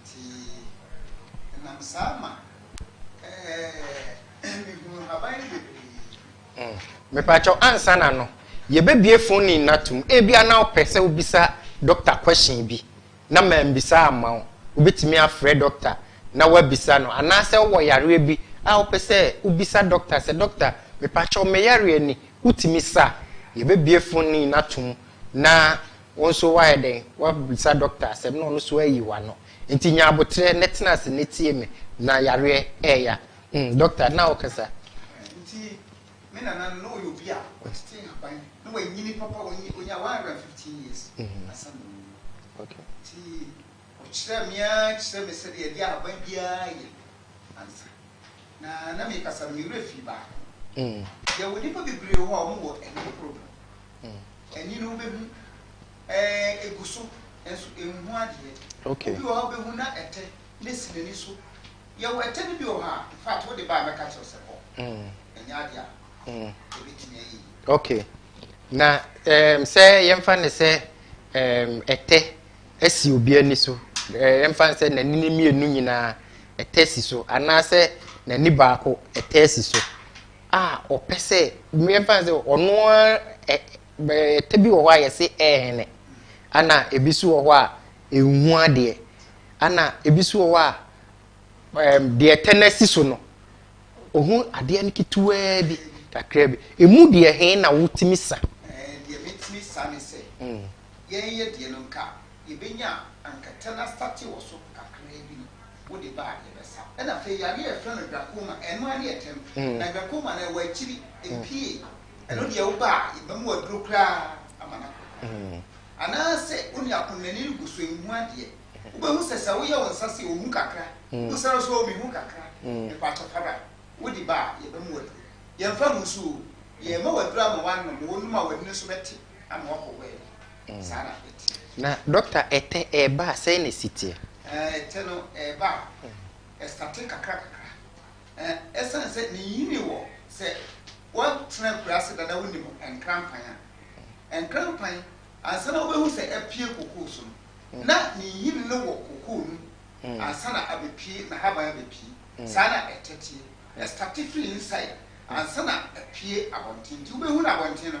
Nti ɛnam saa ma ɛɛ mehunu haban no bebree. Mepakyɛw ansa na no yɛbɛbue phone line no atom ebia na wopɛ sɛ wobisa doctor question bi na mambisa amma wo, wobɛtumi afrɛ doctor na woabisa no anaasɛ wowɔ yareɛ bi a wopɛ sɛ wobisa doctor sɛ doctor mepakyɛw me yareɛ ni wotumi sa a yɛbɛbue phone line no atom na Wo nso woayɛ dɛn? Woabisa dɔkta asɛm na ɔno nso ayi w'ano. Enti nya aboterɛ na tena ase na tie me, na yareɛ reya. Umm dɔkta, na wokasa. Enti me nana no, na ɔyɛ obi a watete nhaban, na wanyini papa, ɔnyaa 115 years ansa na wawu. Enti. Ɔkyerɛɛ me ara kyerɛɛ me sɛdeɛ yɛde ahaban biara yɛ ansa, na na mekasa no me werɛ fii baako. Yɛwɔ nnipa bebree wɔ hɔ a wɔwɔ ɛnne problem. Ani no wobɛhu, ɛɛ, ɛgu so, nanso ɛnhu adeɛ. Obi wɔ hɔ a wobɛhu na ɛtɛ no asi n'ani so. Yɛwɔ ɛtɛ no bi wɔ hɔ a, in fact, wode ba a mɛka kyerɛ wo sɛ kɔ. Ɛnyɛ adeɛ a ɛbɛtumi ayɛ yie. Okay. Na um, sɛ yɛmfa no sɛ um, ɛtɛ si obi ani so, yɛmfa no sɛ n'ani no mmienu nyinaa ɛtɛ si so anaasɛ n'ani baako ɛtɛ si so a ɔpɛ sɛ yɛmfa no sɛ ɔno ɛtɛ bi wɔ hɔ a yɛse ɛɛhene ana ebi so wɔ hɔ a ɛnhu adeɛ ana ebi so wɔ hɔ a deɛ ɛtɛ no asi so no ɔhu adeɛ no ketewaa bi kakra bi ɛmu deɛ he na wotumi sa ɛɛ deɛ metumi sa ne sɛ hmm. yɛn yɛ deɛ no nka yɛbɛnya a anka tɛ na state wɔ so kakraa bi no wo de ba a yɛbɛsa. Ɛna afei yadeɛ a yɛfrɛ no glaucoma ɛno ara ne ɛtɛm na glaucoma no ɛwɔ akyiri ɛpie ɛno deɛ wo ba a yɛbɛma wo aduro koraa ama no akɔ koraa anaa sɛ wo nua pono n'ani regu so ɛnhu adeɛ wobɛhu sɛ sɛ woyɛ wo nsa sei ɔhu kakra wobusa no so oo mehu kakra mepakyɛ fa bra wo de ba a yɛbɛma wo aduro yɛmfa ngu so oo yɛma wo aduro ama wo anom oo wonom a w'ani no nso bɛte Na dɔkta ɛtɛ ɛɛba a sɛn na ɛsi teɛ? Ɛtɛ no ɛɛba a ɛstate kakra kakra. Ɛsiane sɛ ne nyini wɔ sɛ woatena akuraase da na wonim nkrampan a, nkrampan ansa na wobɛhu sɛ apue kokoo so no, na ne nyini no wɔ kokoo no mu ansa na abɛpue, n'ahaban abɛpue. Saa na ɛtɛ teɛ. Ɛstate firi inside ansa na apue abɔnten. Nti wobɛhu no abɔnten no.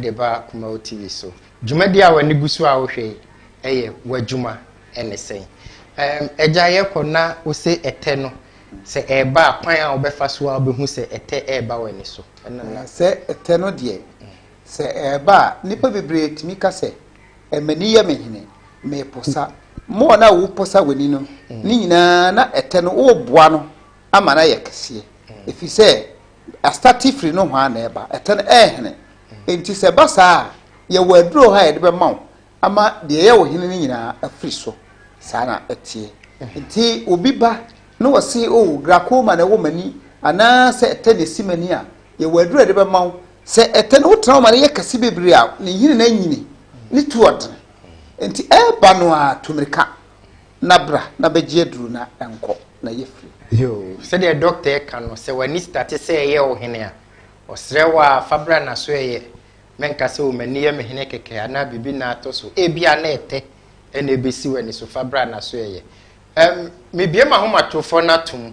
de ba Kumau TV so. Dwumadi a w'ani gu so a wohwɛ yi yɛ w'adwuma ne sɛn? Ɛɛm, agya yɛkɔ na wose ɛtɛ no sɛ ɛreba a kwan a wobɛfa so a wobɛhu sɛ ɛtɛ reba w'ani so? Ɛno na. Sɛ ɛtɛ no deɛ, sɛ ɛreba a nnipa bebree tumi ka sɛ, M'ani yɛ me hene, meposa. More no a woposa w'ani no, ne nyinaa na ɛtɛ no woreboa no ama no ayɛ kɛseɛ. Ɛfiri sɛ Astate firi nohoa na ɛba, ɛtɛn ɛyɛ hene. Enti sɛ ɛba saa a, yɛwɔ aduro ha a yɛde bɛma wo ama deɛ ɛyɛ wo hene no nyinaa afiri so. Saa na ɛteɛ. Nti obi ba na wɔse, o, oh, glaucoma na ɛwɔ m'ani anaasɛ ɛtɛn na ɛsi m'ani a, yɛwɔ aduro a yɛde bɛma wo. Sɛ ɛtɛn wotena ma no yɛ kɛse bebree a, ne nhini no anyini, ne tu ɔdene. Nti ɛba no a, tu mmirika. na bra na bɛgye aduru na nkɔ na yɛ firi. Yoo sɛdeɛ doctor ɛka no sɛ wani starte sɛ ɛyɛ wo hene a ɔsrɛ wo aa fa bra na so ɛyɛ mɛ nka sɛ o mani yɛ me hene kɛkɛ anaa biribi na atɔ so ebia na ɛtɛ ɛna ɛbɛsi wani so fa bra na so ɛyɛ ɛm me bue mahomatorofɔ no ato mu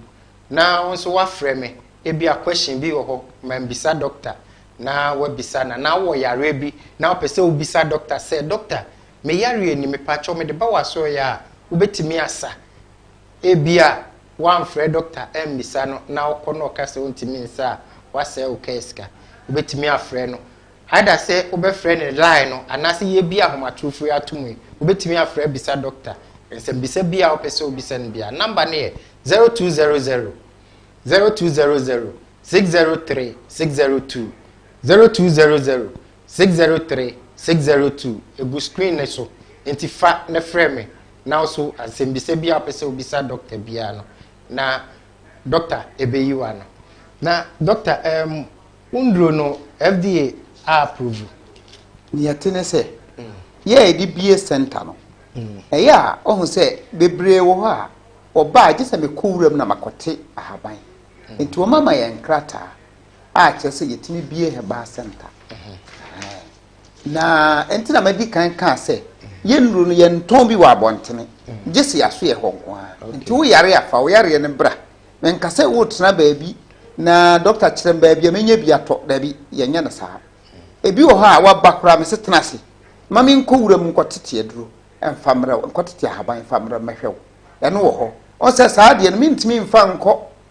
na wo nso wafrɛ me ebia question bi wɔ hɔ ma mbisa doctor na wabisa na na wɔ yareɛ bi na wopɛ sɛ wobisa doctor sɛ doctor Me yareɛ ni, mepakyɛw mede ba w'asoɛeɛ a wobɛtumi asa? Ebia woamfrɛ dɔkta ammisa no na wokɔ na ɔka sɛ ɔntumi nsa a, woasɛe wo kaa sika. Wobɛtumi afrɛ no, either sɛ wobɛfrɛ no line no anaasɛ yɛrebue ahomatorofo yi atom yi, wobɛtumi afrɛ abisa dɔkta nsɛmmisa biara a wopɛ sɛ wobisa no biara. Number no yɛ, zero two zero zero, zero two zero zero, six zero three, six zero two, zero two zero zero, Six zero three six zero two egu screen no so nti fa na frɛ me na nso ansɛmbisa biaa wopɛ sɛ wobisa dɔkta biaa no na dɔkta ɛbɛyi w'ano. Na dɔkta ɛɛm wo nduro no FDA a approve? Nea ɛte ne sɛ, yɛ a yɛde bue center no, ɛyɛ a wohu sɛ bebree wɔ hɔ a wɔba a gye sɛ mekɔ wuram na makɔte ahaban. Nti wɔmama yɛn nkrataa a kyerɛ sɛ yɛtumi bie herbal center na ɛnti na madi kan kaa sɛ yɛnnuro no yɛntɔn bi wɔ abɔntene gye se yɛaso yɛ hɔ nko a nti wo yare afa wo yareɛ no bra menka sɛ wotena baabi na dɔkta kyerɛ m baabi a menya bi atɔ daabi yɛnyɛ no saa ebi wɔ hɔ a waba koraa me se tena ase ma menkɔ wura mu nkɔtete aduro mfa mmerɛ wo nkɔtete ahaban mfa mmerɛ mɛhwɛ wo ɛno wɔ hɔ ɔsɛ saa deɛ no mentumi mfa nkɔ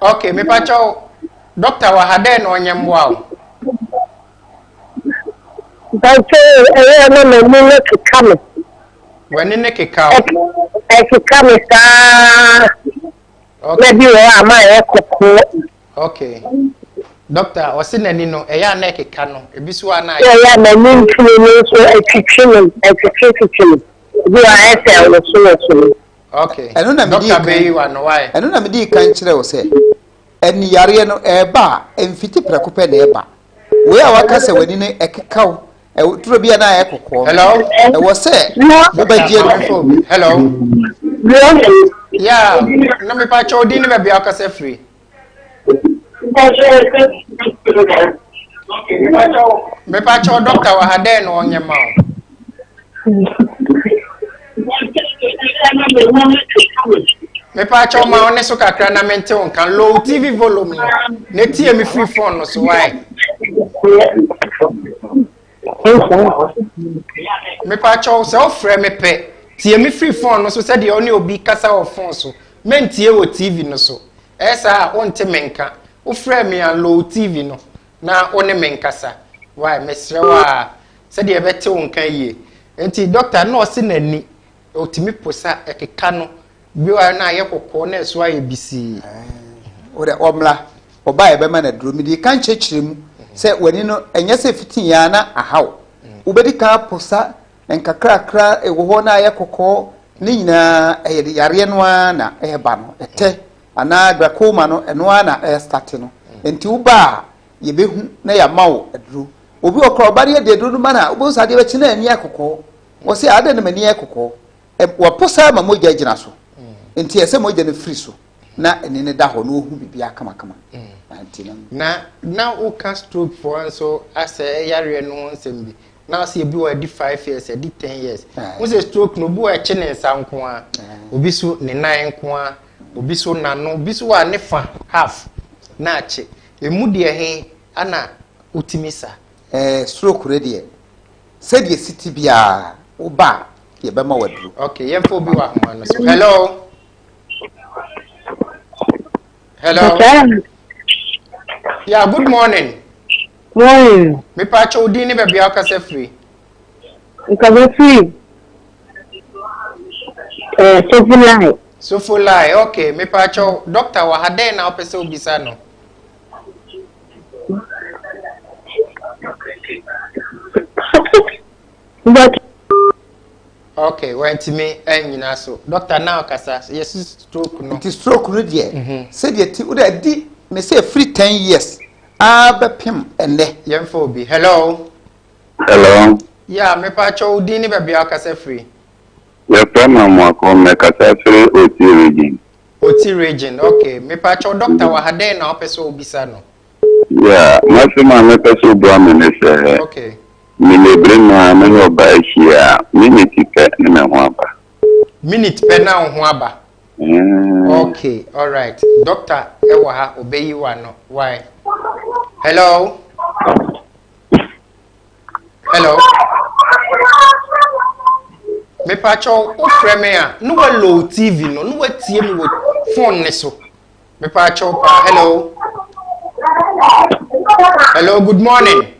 ok mepakyɛ wo dɔkta wɔ ha dɛn na ɔnyɛ mmoa wo mpakyɛ ɛyɛ na m'ani no keka me w'ani no keka wo ɛkeka me saa na bi wɔ a ma ɛyɛ kɔkɔɔ ok dɔkta ɔse n'ani no ɛyɛ a na ɛkeka no ebi so a na ɛyɛ a m'ani ntumi no nso ɛtwitwi me ɛtwitwi twitwi me Gu a ɛsɛ wosowoso no. Okay. Ɛno na medii kan. Dɔkta wa no wae. Ɛno na medii kan kyerɛ wo sɛ ɛni yareɛ no ɛreba a ɛmfiti prɛko pɛ na ɛba. Wei a waka sɛ w'ani no ɛkeka wo ɛwɔ turo bi a na ayɛ kɔkɔɔ. Hello. Ɛwɔ sɛ wobɛgye no. Hello. Yeah. Na mepa kyɛw din ne baabi akasa firi. mepa kyɛw dɔkta wɔ ha dɛn na ɔnyɛ ma o. mepa kyɛw ma ɔne so kakra na mente wo nka low tv volume no na tie me firi phone no so wae. Mepakyɛw, sɛ wofrɛ me pɛ, tie me firi fon no so sɛdeɛ wo ne obi kasa wɔ fon so. Mɛntie wɔ TV no so. Ɛyɛ saa a, wonte me nka. Wofrɛɛ me a, low TV no, na wo ne me nkasa. Wai, mesrɛ wo a, sɛdeɛ ɛbɛte wo nka yie. Enti, dɔkta no ɔse n'ani. Otumi po sɛ ɛkeka no bio ara na ayɛ kɔkɔɔ na ɛso ayɛ bisii. Wodɛ ɔmmra, ɔba a yɛbɛma no aduro. Mede ka nkyerɛkyerɛ mu sɛ w'ani no ɛnyɛ sɛ fiti yɛ ara na aha wo. Wobɛdi kan apo sa nkakrakra a ɛwɔ hɔ na ayɛ kɔkɔɔ. Ne nyinaa ɛyɛ de yareɛ no ara na ɛreba no. Ɛtɛ anaa glaucoma no ɛno ara na ɛrestate no. Enti woba a yɛbɛhu na yɛama wo aduro. Obi wɔ hɔ koraa a ɔba no yɛde aduro no ma no a wobɛhu sɛ adeɛ bɛkye na n'ani ayɛ kɔkɔɔ. Wɔse adɛn na m'ani yɛ kɔkɔɔ? Wɔpo saa ma mogya gyina so. Nti ɛsɛ sɛ mogya no firi so na ani no da hɔ na ɔhu biribiara kamakama. Na na woka strokefoɔ nso asɛ yareɛ no ho nsɛm bi. Na wo sɛ ebi wɔ hɔ a ɛdi five years, ɛdi ten years. Wohu sɛ stroke no, obi wɔ hɔ a ɛkye ne nsa nko ara, obi so ne nan nko ara, obi so n'ano, obi so wɔ a ne fa, half, na akye. Emu deɛ he na wotumi sa? Ɛɛ stroke no deɛ sɛdeɛ ɛsi te biara woba a yɛbɛma waduru. Okay, yɛmfa obi wɔ ahoma no so. Hello. Hello. Okay. Yeah, good morning. Morning. Me pa cho din ne baabi a wokasa firi. Nkasa firi. Eh, Sofolai. Sofolai, okay. Me pa cho doctor wɔ ha dɛn na wopɛ sɛ wobisa no? okay wantumi anyina so doctor na ɔkasa yɛsi stroke no nti stroke no deɛ mhm. sɛdeɛ ti wode adi me sɛ ɛfiri ten years aa bɛpem ɛnɛ yɛmfa obi hello hello ya mepa kyɛ wo din ne baabi a ɔkasa firi yɛfrɛ ma mmoako mmɛkasa firi otie region Oti region ok mepa kyɛw doctor wɔ ha dɛn na ɔpɛ sɛ ɔbisa no. Yeah masɛm a mɛpɛ sɛ ɔbua me ne sɛ okay. Meyɛ brima me ne ɔbaa ahyia a minute pɛ ne me ho aba. Minute pɛ na wo ho aba. Mm. Okay alright doctor ɛwɔ ha ɔbɛyi wa no why hello. Hello. Mepakyɛw wofrɛ me a ne wa low TV no ne wa tie me wɔ phone ne so. Mepakyɛw paa hello. Hello good morning.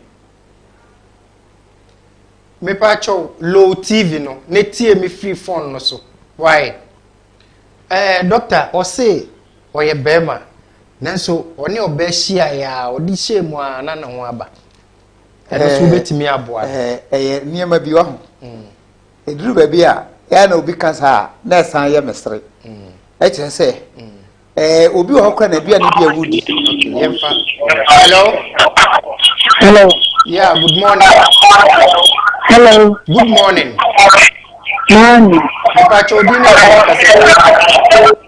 Mepakyɛw low TV no ne tie me free phone no so. Why? Eh, doctor ɔse ɔyɛ bɛrima nanso ɔne ɔbɛ hyia ya ɔde hyɛ mu a na ne ho aba. ɛno nso wobɛtumi aboa no ɛyɛ nneɛma bi waho ɛduru mm. baabi a ɛyɛ na obi kasa a na ɛsan yɛ mesere mm. ɛkyerɛ sɛ mm. ɛɛ obi wɔ hɔ kora na aduane bi a wodi yɛmfa hello hello yeah good morning hello good morning morning mpakyɛ obi na ɛkasa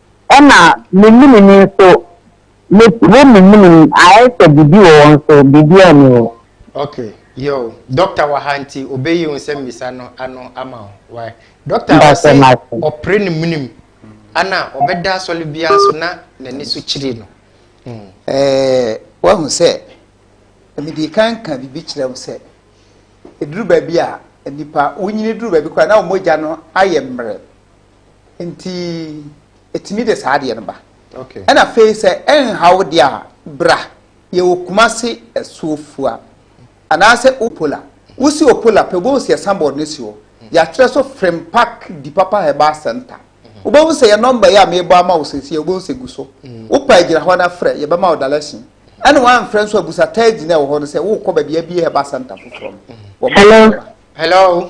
Ɛna me menini nso me wo me menini ayɛ sɛ biribi wɔ wɔn so biribiaa nni hɔ. Ok yoo doctor wɔ ha nti ɔbɛyi wo nsɛm bisa no ano ama wo wai doctor ɔse ɔpere ne menim ana ɔbɛda asɔle biaa so na nani so kyiri no hmm. Eh, wahu sɛ mede kan ka biribi kyerɛ wo sɛ ɛduru baabi a nnipa wonyini duru baabi koraa na wɔmɔgya no ayɛ mmerɛ nti ɛtumi de saa adeɛ no ba ɛna afei sɛ ɛnha wo deɛ a bra yɛwɔ kuma se asuofua anaasɛ opola wosi opola pɛ wobɛhu sɛ yɛsan bɔɔd no si hɔ yɛatwerɛ so frempak di papa herbal center wobɛhu sɛ yɛ nɔmba yi a mebɔ ama wo sɛsi a wobɛhu sɛ gu so wopɛ agyina hɔ no afrɛ yɛbɛma wo dalɛsen ɛne woamfrɛ nso abusa taadi no ɛwɔ hɔ no sɛ wokɔ baabi abie herbal center foforɔ no wɔma hello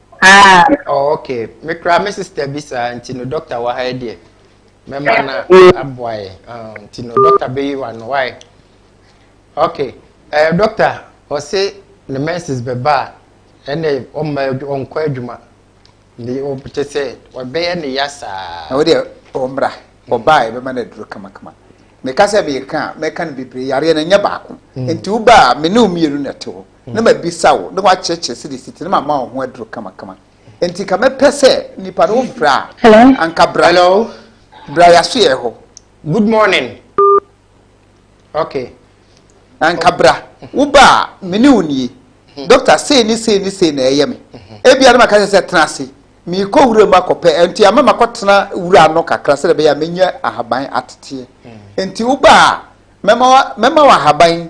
Ah. Oh, okay. Me kura me sister bi saa nti no doctor wɔ ha deɛ. Mɛma na aboa yɛ. Ah, nti no doctor bɛyi wa no wae. Okay. Eh, doctor, ɔse ne menses bɛba a ɛnna ɔmma ɔnkɔ adwuma. Ne ɔpete sɛ ɔbɛyɛ ne ya saa. Na wodeɛ ɔmmra ɔbaa yɛbɛma no aduro kamakama. Meka sɛ meka mɛka no bebree yareɛ no nyɛ baako. Mm. Nti wobaa me ne wo mmienu na ɛte hɔ. na mabisa wo na woakyerɛkyerɛ sɛdeɛ ɛsi te na mama wo ho aduro kamakama nti ka mɛpɛ sɛ nipa no wofrɛ a anka bra bra yɛaso yɛ hɔ good morning okay anka bra woba a mene wo nie mhm. dɔkta sei ne sei ne sei na ɛyɛ me mhm. ebia no maka sɛ tena ase meekɔ wura mu akɔpɛ nti ama makɔtena wura ano kakra sɛ bɛyɛ a menya ahaban ateteɛ hmm. nti woba a mɛma wo ahaban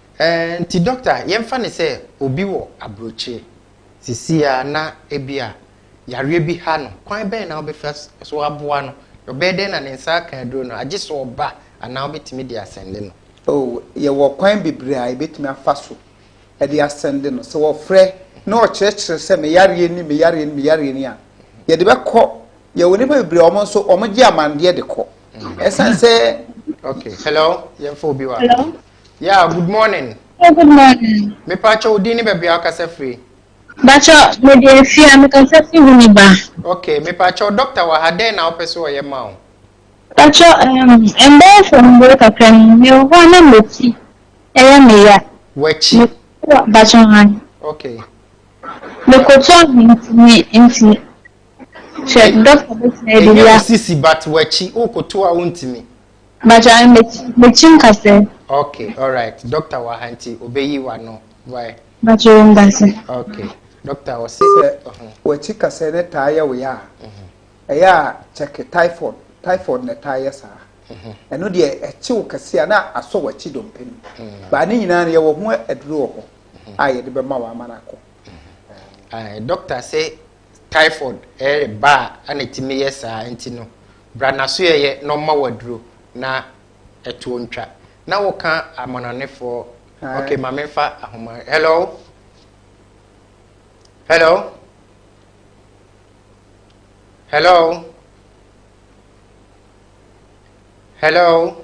Enti dɔkta, yɛmfa no sɛ obi wɔ aburokyire seesei ara na ebia yareɛ bi ha no, kwan bɛn na wobɛfa so aboa no? Ɔbɛyɛ dɛn na ne nsa aka aduro no? Agye sɛ ɔba anaa wobɛtumi de asɛnde no? Oh, yɛwɔ kwan bebree a yɛbɛtumi afa so de asɛnde no. Sɛ wɔfrɛ na wɔkyerɛkyerɛ sɛ me yareɛ ni, me yareɛ ni, me yareɛ ni a, yɛde bɛkɔ. Yɛwɔ nnipa bebree a wɔn nso wɔgye amanneɛ de kɔ. Ɛsiane sɛ. Okay, hello, yɛmfa obi wɔ ha. Hello. Yeah, good morning. Oh, good morning. Me pa cho din ni baabi a ɔkasa firi. Bacho, me di efi a me kasa firi hu ni ba. Okay, me pa cho doctor wɔ ha dɛn na ɔpɛ so ɔyɛ ma o. Bacho, um, ɛmbɛyɛ sɛ mbere kakra ni me wɔ hɔ a na m'akyi ɛyɛ me ya. W'akyi? Bacho han. Okay. Me koto ahentini nti. Hwɛ, doctor bɛtumi ɛdi ya. Ɛnyɛ wo sisi but w'akyi, wo koto a wontumi. Mpakyɛ mekyi nkasɛ. Ok alright doctor wɔ ha nti obeyi wano wai. Mpakyɛ yɛ ndase. Ok doctor wɔ se. Sɛ wakyi kasɛ ne taa yɛ wo ya a mhm. ɛyɛ a check typhoid typhoid na ɛtaa yɛ saa mhm. ɛno deɛ ɛkyi wo kɛse a na asɔ wakyi dompe no mhm. baa ne nyinaa no yɛwɔ ho aduro wɔ hɔ a yɛde bɛma wɔ ama no akɔ. Doctor se Typhoid yɛ ba a ana ɛtumi yɛ saa nti no, bra n'asoɛeɛ na ɔmma wo aduro na ɛtoɔ ntwa. Na woka amanɔnefoɔ okay ma menfa ahoma hello hello hello hello.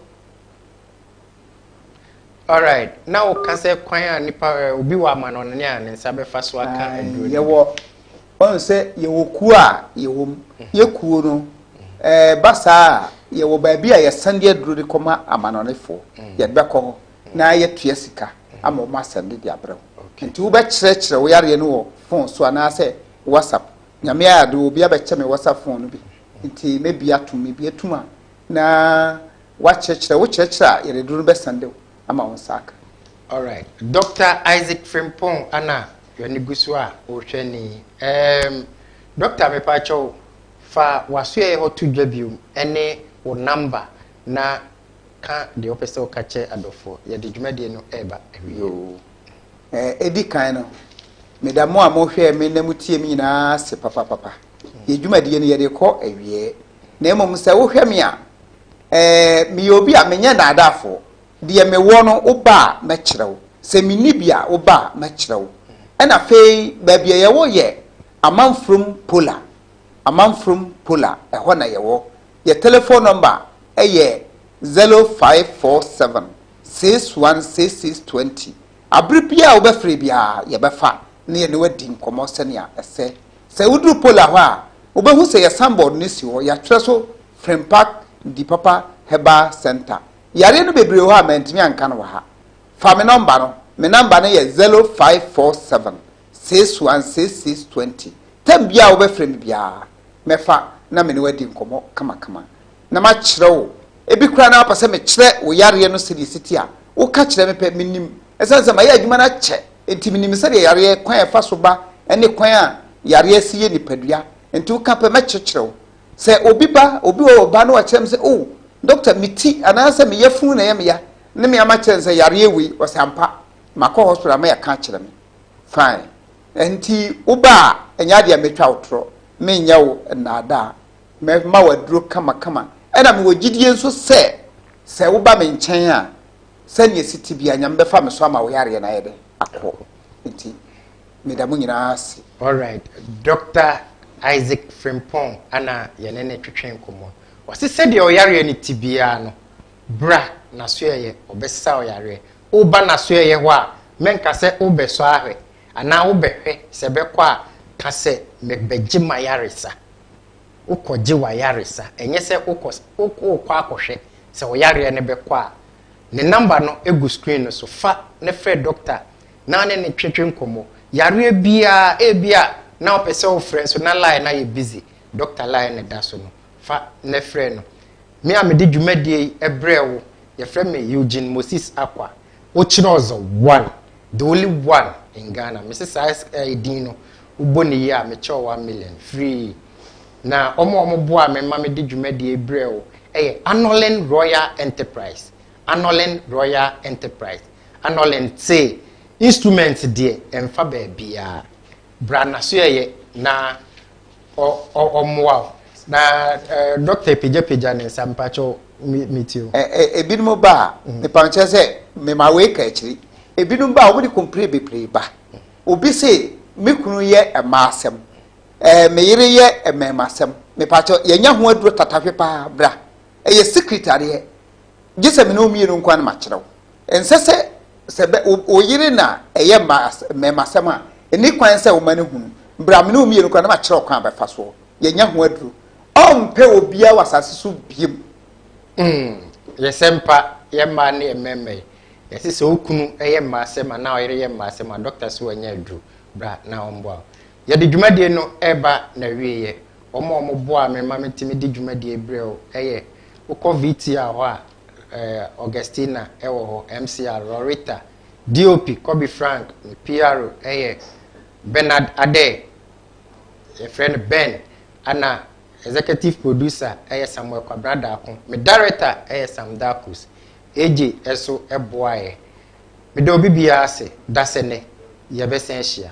Alright, na wo ka sɛ kwan a nipa eh, obi wɔ amanɔne a ne nsa bɛfa so aka ah, aduro no. Yɛwɔ, wɔn sɛ yɛwɔ kuo a yɛwɔ mu, mhm. yɛ kuo no, ɛɛ eh, ba saa a yɛwɔ baabi a yɛsan de aduro de kɔma amanɔnefoɔ, mhm. yɛde bɛkɔ hɔ mhm. na yɛtua sika ama wɔn asɛm de de abrɛ wo. Nti wobɛkyerɛkyerɛ wo yareɛ no wɔ fon so anaasɛ WhatsApp. Nyame ayɛ ade obi abɛkyɛ me WhatsApp fon no bi, nti mɛbi atom, mebi atum a na Woakyerɛkyerɛ wo kyerɛkyerɛ a yɛde duru no bɛsan de ama wo nsa aka. Alright Doctor Isaac Frimpong ana w'ani gu so a wohwɛ ni eem Doctor mepaakyɛw fa w'asoɛeɛ hɔ to dwa biom ɛne wo number na ka deɛ wopɛ sɛ woka kyɛ adɔfoɔ yɛde dwumadie no ɛɛba awieɛ. Yoo ɛɛ edi kan no meda mo a mo hwɛɛ me na mo tie me nyinaa ase papapapa yɛ dwumadie no yɛde kɔ awieɛ na mmom sɛ wo hwɛ me a Ɛɛ, meyɛ obi a menyɛ nnaadaafo. Deɛ mewɔ no, wo ba a, mɛkyerɛ wo. Sɛ menni bi a, wo ba a, mɛkyerɛ wo. Ɛna afei baabi a yɛwɔ yɛ Amanfurom Pola. Amanfurom Pola, ɛhɔ na yɛwɔ. Yɛ telefon nɔmba yɛ zɛlo faiv fɔɔ sɛvɛn siks wan siks siks tuwɛnti. Abere biara a wobɛfrɛ biara, yɛbɛfa na yɛne wo adi nkɔmmɔ sɛnea ɛsɛ. Sɛ woduru Pola hɔ a, wobehu sɛ yɛ sanbɔɔd no si hɔ, yɛatwerɛ so Frempag Ndi Papa Herbal Centre. Yareɛ no bebree wɔ hɔ a mantumi anka no wɔ ha. Fa me nɔmba no, me nɔmba no yɛ zero five four seven, six one six six twenty. Tam biara a wobɛfrɛ me biara, mɛfa na me ne wo adi nkɔmmɔ kamakama. Na makyerɛ wo, ebi koraa na wopɛ sɛ mekyerɛ wo yareɛ no sɛdeɛ ɛsi te a, woka kyerɛ me pɛ, menim. Ɛsiane sɛ mayɛ adwuma no akyɛ Enti minim sɛdeɛ yareɛ, kwan a ɛfa so ba ne kwan a yareɛ si yɛ nipadua. Enti woka pɛ, mɛkyerɛkyerɛ wo. Sɛ obi ba, obi wɔ hɔ ɔba na wakyerɛ me sɛ, Oh, dɔkta, me ti anaasɛ me yafunu na ɛyɛ me ya, ne me ama kyerɛ no sɛ yareɛ wei, ɔse ampa, makɔ hospital ama yɛaka akyerɛ me. Fine. Enti woba a, ɛnyɛ adeɛ a mɛtwa wo torɔ, menyɛ wo nnaadaa. Mɛma wo aduro kamakama. Ɛna mewɔ gyidie nso sɛ, sɛ woba me nkyɛn a, Sɛnea ɛsi te biara, Nyame bɛfa me so ama wo yareɛ no ayɛ dɛ? Akɔ. Nti, meda mo nyinaa ase. Alright, Doctor Isaac Frimpong na yɛne no twetwee nkɔmmɔ. Ɔse sɛdeɛ ɔyareɛ no te biara no, bra Nasoɛeɛ, ɔbɛsesa wo yareɛ. Woba Nasoɛeɛ hɔ a, mɛnka sɛ wobɛsɔ ahwɛ, anaa wobɛhwɛ sɛ bɛkɔ a, ka sɛ, Mebɛgye m'ayaresa. wokɔgye w'ayaresa, ɛnyɛ sɛ wokɔ wokɔ akɔhwɛ sɛ wo yareɛ no bɛkɔ a, ne number no gu screen no so, fa na frɛ doctor na ne no twetwe nkɔmmɔ. Yareɛ biara, ebi a na wopɛ sɛ wofrɛ nso na line no ayɛ busy, doctor line no da so no, fa na frɛ no. Me a mede dwumadie yi brɛɛ wo, yɛfrɛ me Eugene Moses Akwa. Wokyerɛ ɔdze one, the only one in Ghana. Mese saa eh, din no, wobɔ ne yie a, mekyɛ wo one million, free. Na wɔn a wɔboaa me ma mede dwumadie yi brɛɛ wo yɛ Anolin Royal Enterprise. Anolin Royal Enterprise. Anolin te instrument deɛ ɛmfa baabiara. Bra n'asoɛeɛ na ɔmmoa wo. Na dɔkta pagyapagya ne nsa mpakyɛ metie o. Ebinom ba a, mepa nkyɛ sɛ mema wei ka akyiri. Ebinom ba a, wɔn de kompire bebree ba. Obi se, me kunu yɛ mmaa asɛm, ɛɛ me yere yɛ mmarima asɛm. Mepakyɛ, yɛanya ho aduro tatahwe paa. Bra, ɛyɛ secret adeɛ. Gye sɛ me ne wo mmienu nko ara na makyerɛ wo. Ɛnsɛ sɛ sɛ bɛ wo wo yere na ɛyɛ mma as mmarima asɛm a, nni kwan sɛ woma no hunu. Bere a me ne wo mmienu kura no, na makyerɛ wo kwan a bɛfa soɔ. Yɛanya ho aduro. Ɔmpɛ obiara wɔ asase so biom. Mm, yɛ sɛ mpa, yɛ mmaa ne yɛ mmarima yi. Ɛsɛ sɛ okunu yɛ mma asɛm anaa ɔyere yɛ mma asɛm a, dɔkta se wanya aduro. Bra na ɔmmoa wo. Yɛde dwumadie no reba n'awieɛ. Wɔn a wɔboaa me ma metumi de dwumadie brɛɛ wo yɛ, wokɔ VTR hɔ a, eh, Augustina wɔ hɔ, MCR, Rorita, DOP, Kobe Frank, ne PRO yɛ Bernard Adair, yɛfrɛ no Ben, ɛna executive producer yɛ Samuel Kwabena Daako, me director yɛ Sam Darkus, AJ nso boaeɛ. Meda obi biara ase, dasɛ nɛ, yɛbɛsan ahyia.